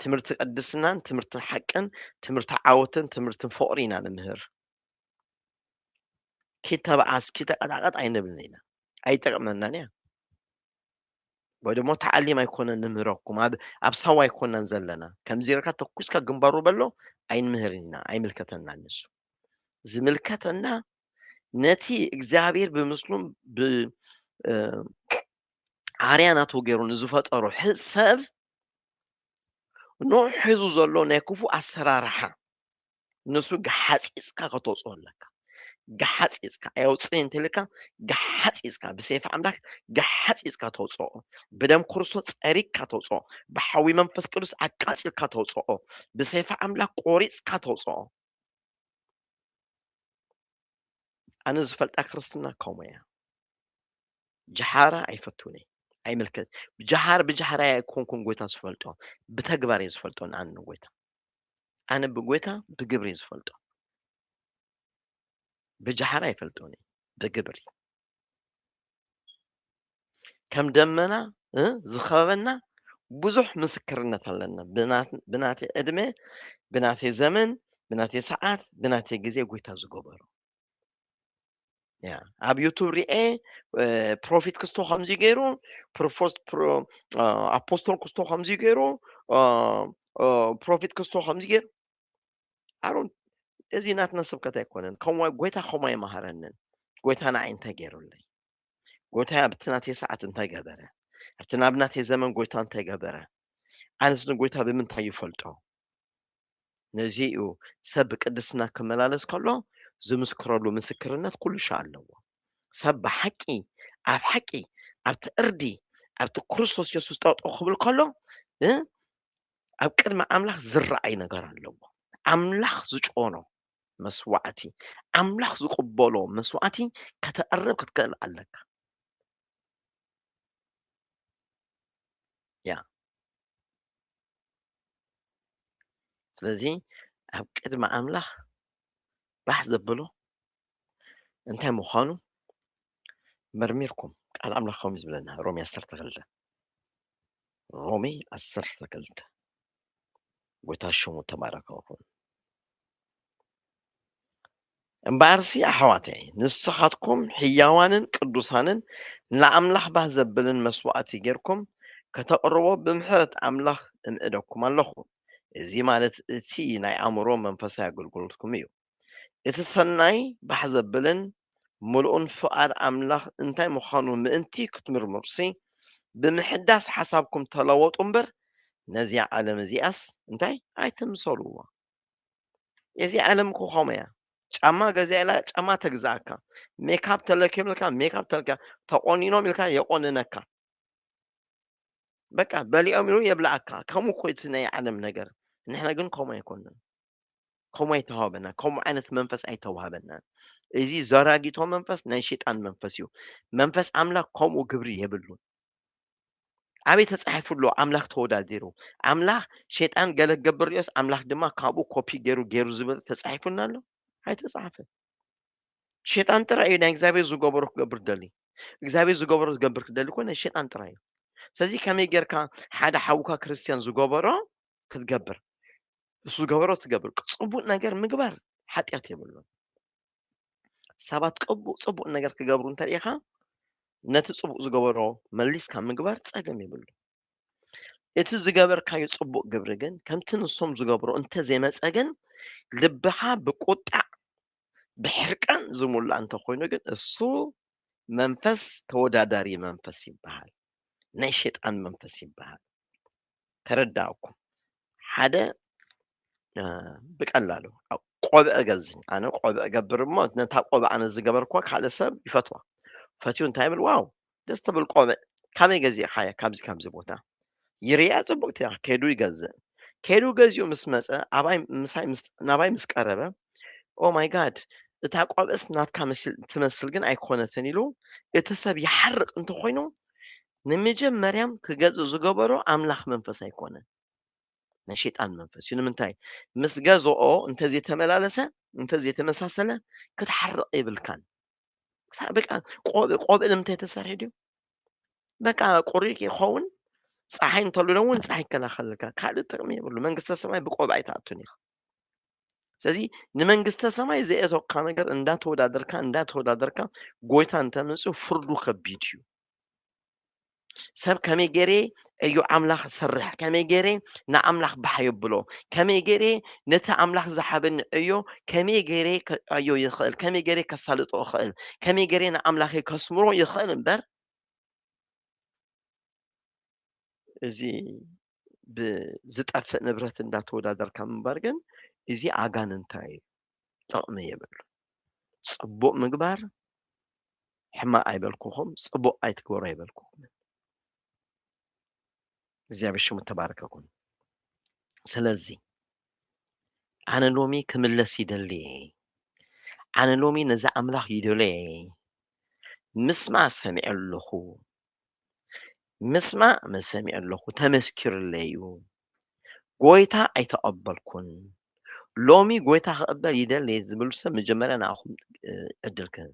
ትምህርቲ ቅድስናን ትምህርቲ ሓቅን ትምህርቲ ዓወትን ትምህርቲ ፍቕሪ ኢና ንምህር ኪተብዓስ ኪተቐጣቐጥ ኣይንብልን ኢና ኣይጠቕመናን እያ ወይ ደሞ ተዓሊም ኣይኮነን ንምህረኩም ኣብ ኣብ ሳዋ ኣይኮናን ዘለና ከምዚ ኢልካ ተኩስካ ግንባሩ በሎ ኣይንምህር ኢና ኣይምልከተናን ንሱ ዝምልከተና ነቲ እግዚኣብሔር ብምስሉም ብዓርያ ናቱ ገይሩ ንዝፈጠሮ ሰብ ኖ ሒዙ ዘሎ ናይ ክፉእ ኣሰራርሓ ንሱ ገሓፂፅካ ከተውፅኦ ኣለካ ገሓፂፅካ ኣየውፅእን እንተልካ ገሓፂፅካ ብሰይፊ ኣምላክ ገሓፂፅካ ተውፅኦ ብደም ክርስቶስ ፀሪግካ ተውፅኦ ብሓዊ መንፈስ ቅዱስ ኣቃፂልካ ተውፅኦ ብሰይፊ ኣምላክ ቆሪፅካ ተውፅኦ ኣነ ዝፈልጣ ክርስትና ከምኡ እያ ጀሓራ ኣይፈትውን እየ ኣይምልከት ጀሃር ብጀሃራ ኣይኮንኩን ጎይታ ዝፈልጦ ብተግባር እየ ዝፈልጦ ንኣነ ጎይታ ኣነ ብጎይታ ብግብሪ እየ ዝፈልጦ ብጃሓር ኣይፈልጦን እየ ብግብሪ ከም ደመና እ ዝኸበበና ብዙሕ ምስክርነት ኣለና ብና- ብናተይ ዕድመ ብናተይ ዘመን ብናተይ ሰዓት ብናተይ ግዜ ጎይታ ዝገበሮ ያ ኣብ ዩቱብ ሪኤ ፕሮፊት ክስቶ ከምዚ ገይሩ ፕሮፎስ ፕሮ- አ፣ ኣፖስቶል ክስቶ ከምዚ ገይሩ አ፣ አ፣ ፕሮፊት ክስቶ ከምዚ ገይሩ ኣሮን እዚ ናትና ስብከት ኣይኮነን ከምኡ ጎይታ ከምኡ ኣይመሃረንን ጎይታ ንዓይ እንታይ ገይሩለይ ጎይታ ኣብቲ ናተይ ሰዓት እንታይ ገበረ ኣብቲ ናብ ናተይ ዘመን ጎይታ እንታይ ገበረ ኣነስ ንጎይታ ብምንታይ ይፈልጦ ነዚ እዩ ሰብ ብቅድስና ክመላለስ ከሎ ዝምስክረሉ ምስክርነት ኩሉ ሻዕ ኣለዎ። ሰብ ብሓቂ ኣብ ሓቂ ኣብቲ ዕርዲ ኣብቲ ክርስቶስ የሱስ ጠጠው ክብል ከሎ ኣብ ቅድሚ ኣምላኽ ዝረኣይ ነገር ኣለዎ። ኣምላኽ ዝጮኖ መስዋዕቲ ኣምላኽ ዝቕበሎ መስዋዕቲ ከተቕርብ ክትክእል ኣለካ። ያ ስለዚ ኣብ ቅድሚ ኣምላኽ ባሕ ዘብሎ እንታይ ምዃኑ መርሚርኩም ቃል ኣምላኽ ከምኡ ዝብለና ሮሜ ዓሰርተ ክልተ ሮሜ ዓሰርተ ክልተ ጎይታ ሽሙ ተባረከ ይኹን እምበኣርሲ ኣሕዋተይ ንስኻትኩም ሕያዋንን ቅዱሳንን ንኣምላኽ ባህ ዘብልን መስዋእቲ ጌርኩም ከተቕርቦ ብምሕረት ኣምላኽ እምዕደኩም ኣለኹ። እዚ ማለት እቲ ናይ ኣእምሮ መንፈሳዊ ኣገልግሎትኩም እዩ። እቲ ሰናይ ባህ ዘብልን ምሉእን ፍቓድ ኣምላኽ እንታይ ምዃኑ ምእንቲ ክትምርምሩሲ ብምሕዳስ ሓሳብኩም ተለወጡ እምበር ነዚኣ ዓለም እዚኣስ እንታይ ኣይትምሰልዎ። እዚ ዓለም እኮ ከምኡ እያ ጫማ ገዚኣ ኢላ ጫማ ተግዝኣካ ሜካፕ ተለኪዮም ኢልካ ሜካፕ ተልካ ተቆኒኖም ኢልካ የቆንነካ በቃ በሊኦም ኢሉ የብልኣካ ከምኡ እኮ እቲ ናይ ዓለም ነገር ንሕና ግን ከምኡ ኣይኮንናን ከምኡ ኣይተዋህበና ከምኡ ዓይነት መንፈስ ኣይተዋህበናን እዚ ዘራጊቶ መንፈስ ናይ ሸይጣን መንፈስ እዩ መንፈስ ኣምላክ ከምኡ ግብሪ የብሉን ኣበይ ተጻሒፉ ኣሎ ኣምላኽ ተወዳዲሩ? ኣምላኽ ሸይጣን ገለ ክገብር ርዮስ ኣምላኽ ድማ ካብኡ ኮፒ ገይሩ ገይሩ ዝብል ተጻሒፉና ኣሎ? ኣይተጻሕፈን። ሸይጣን ጥራይ እዩ ናይ እግዚኣብሔር ዝገበሮ ክገብር ደሊ እግዚኣብሔር ዝገበሮ ዝገብር ክደሊ ኮነ ሸይጣን ጥራይ እዩ። ስለዚ ከመይ ጌርካ ሓደ ሓውካ ክርስትያን ዝገበሮ ክትገብር እሱ ዝገበሮ ትገብር ጽቡቅ ነገር ምግባር ሓጢኣት የብሉን። ሰባት ቅቡእ ጽቡቕ ነገር ክገብሩ እንተሪኢኻ ነቲ ጽቡቕ ዝገበሮ መሊስካ ምግባር ጸገም ይብሉ እቲ ዝገበርካዩ ጽቡቕ ግብሪ ግን ከምቲ ንሶም ዝገብሮ እንተዘይመፀ ግን ልብኻ ብቁጣዕ ብሕርቃን ዝሙላእ እንተኮይኑ ግን እሱ መንፈስ ተወዳዳሪ መንፈስ ይበሃል ናይ ሸጣን መንፈስ ይበሃል ተረዳኣኩም ሓደ ብቀላሉ ቆብዕ ገዝኝ ኣነ ቆብዕ ገብር እሞ ነታ ቆብዕ ኣነ ዝገበርኩዋ ካልእ ሰብ ይፈትዋ ፈትዩ እንታይ ብል ዋው ደስ ትብል ቆብዕ ካበይ ገዚእካያ ካብዚ ካብዚ ቦታ ይርያ ፅቡቅቲ እያ ከይዱ ይገዝእ ከይዱ ገዚኡ ምስ መፀ ኣባይ ምሳይ ናባይ ምስ ቀረበ ኦ ማይ ጋድ እታ ቆብዕስ ናትካ ትመስል ግን ኣይኮነትን ኢሉ እቲ ሰብ ይሓርቅ እንተኮይኑ ንምጀመርያም ክገዝእ ዝገበሮ ኣምላኽ መንፈስ ኣይኮነን ናይ ሸይጣን መንፈስ እዩ ንምንታይ ምስ ገዝኦ እንተዘይተመላለሰ እንተዘይተመሳሰለ ክትሓርቕ የብልካን በቃ ቆብእ ንምንታይ ተሰርሒ ድዩ በቃ ቁሪ ይኸውን ፀሓይ እንተልሎ እውን ፀሓይ ይከላኸልልካ ካልእ ጥቕሚ የብሉ መንግስተ ሰማይ ብቆብ ኣይትኣቱን ኢኻ ስለዚ ንመንግስተ ሰማይ ዘየተካ ነገር እንዳተወዳደርካ እንዳተወዳደርካ ጎይታ እንተምፅእ ፍርዱ ከቢድ እዩ ሰብ ከመይ ገይረ እዩ ኣምላኽ ዝሰርሕ ከመይ ገይረ ንኣምላኽ ባሕ የብሎ ከመይ ገይረ ነቲ ኣምላኽ ዝሓበኒ ዕዮ ከመይ ገይረ ክዕዮ ይኽእል ከመይ ገይረ ከሳልጦ ይኽእል ከመይ ገይረ ንኣምላኽ ከስምሮ ይኽእል እምበር እዚ ብዝጠፍእ ንብረት እንዳተወዳደርካ ምንባር ግን እዚ ኣጋንንታዊ እዩ፣ ጥቕሚ የብሉ። ጽቡቕ ምግባር ሕማቕ ኣይበልኩኹም፣ ጽቡቕ ኣይትግበሩ ኣይበልኩኹም። እግዚኣብሔር ሽሙ ተባረከ ኩን። ስለዚ ኣነ ሎሚ ክምለስ ይደሊ ኣነ ሎሚ ነዚ ኣምላኽ ይደለየ ምስማ ሰሚዐ ኣለኹ ምስማዕ መሰሚዑ ኣለኹ ተመስኪሩለይ እዩ ጎይታ ኣይተቐበልኩን ሎሚ ጎይታ ክቕበል ይደሊ ዝብሉ ሰብ መጀመርያ ንኣኹም ዕድል ክህብ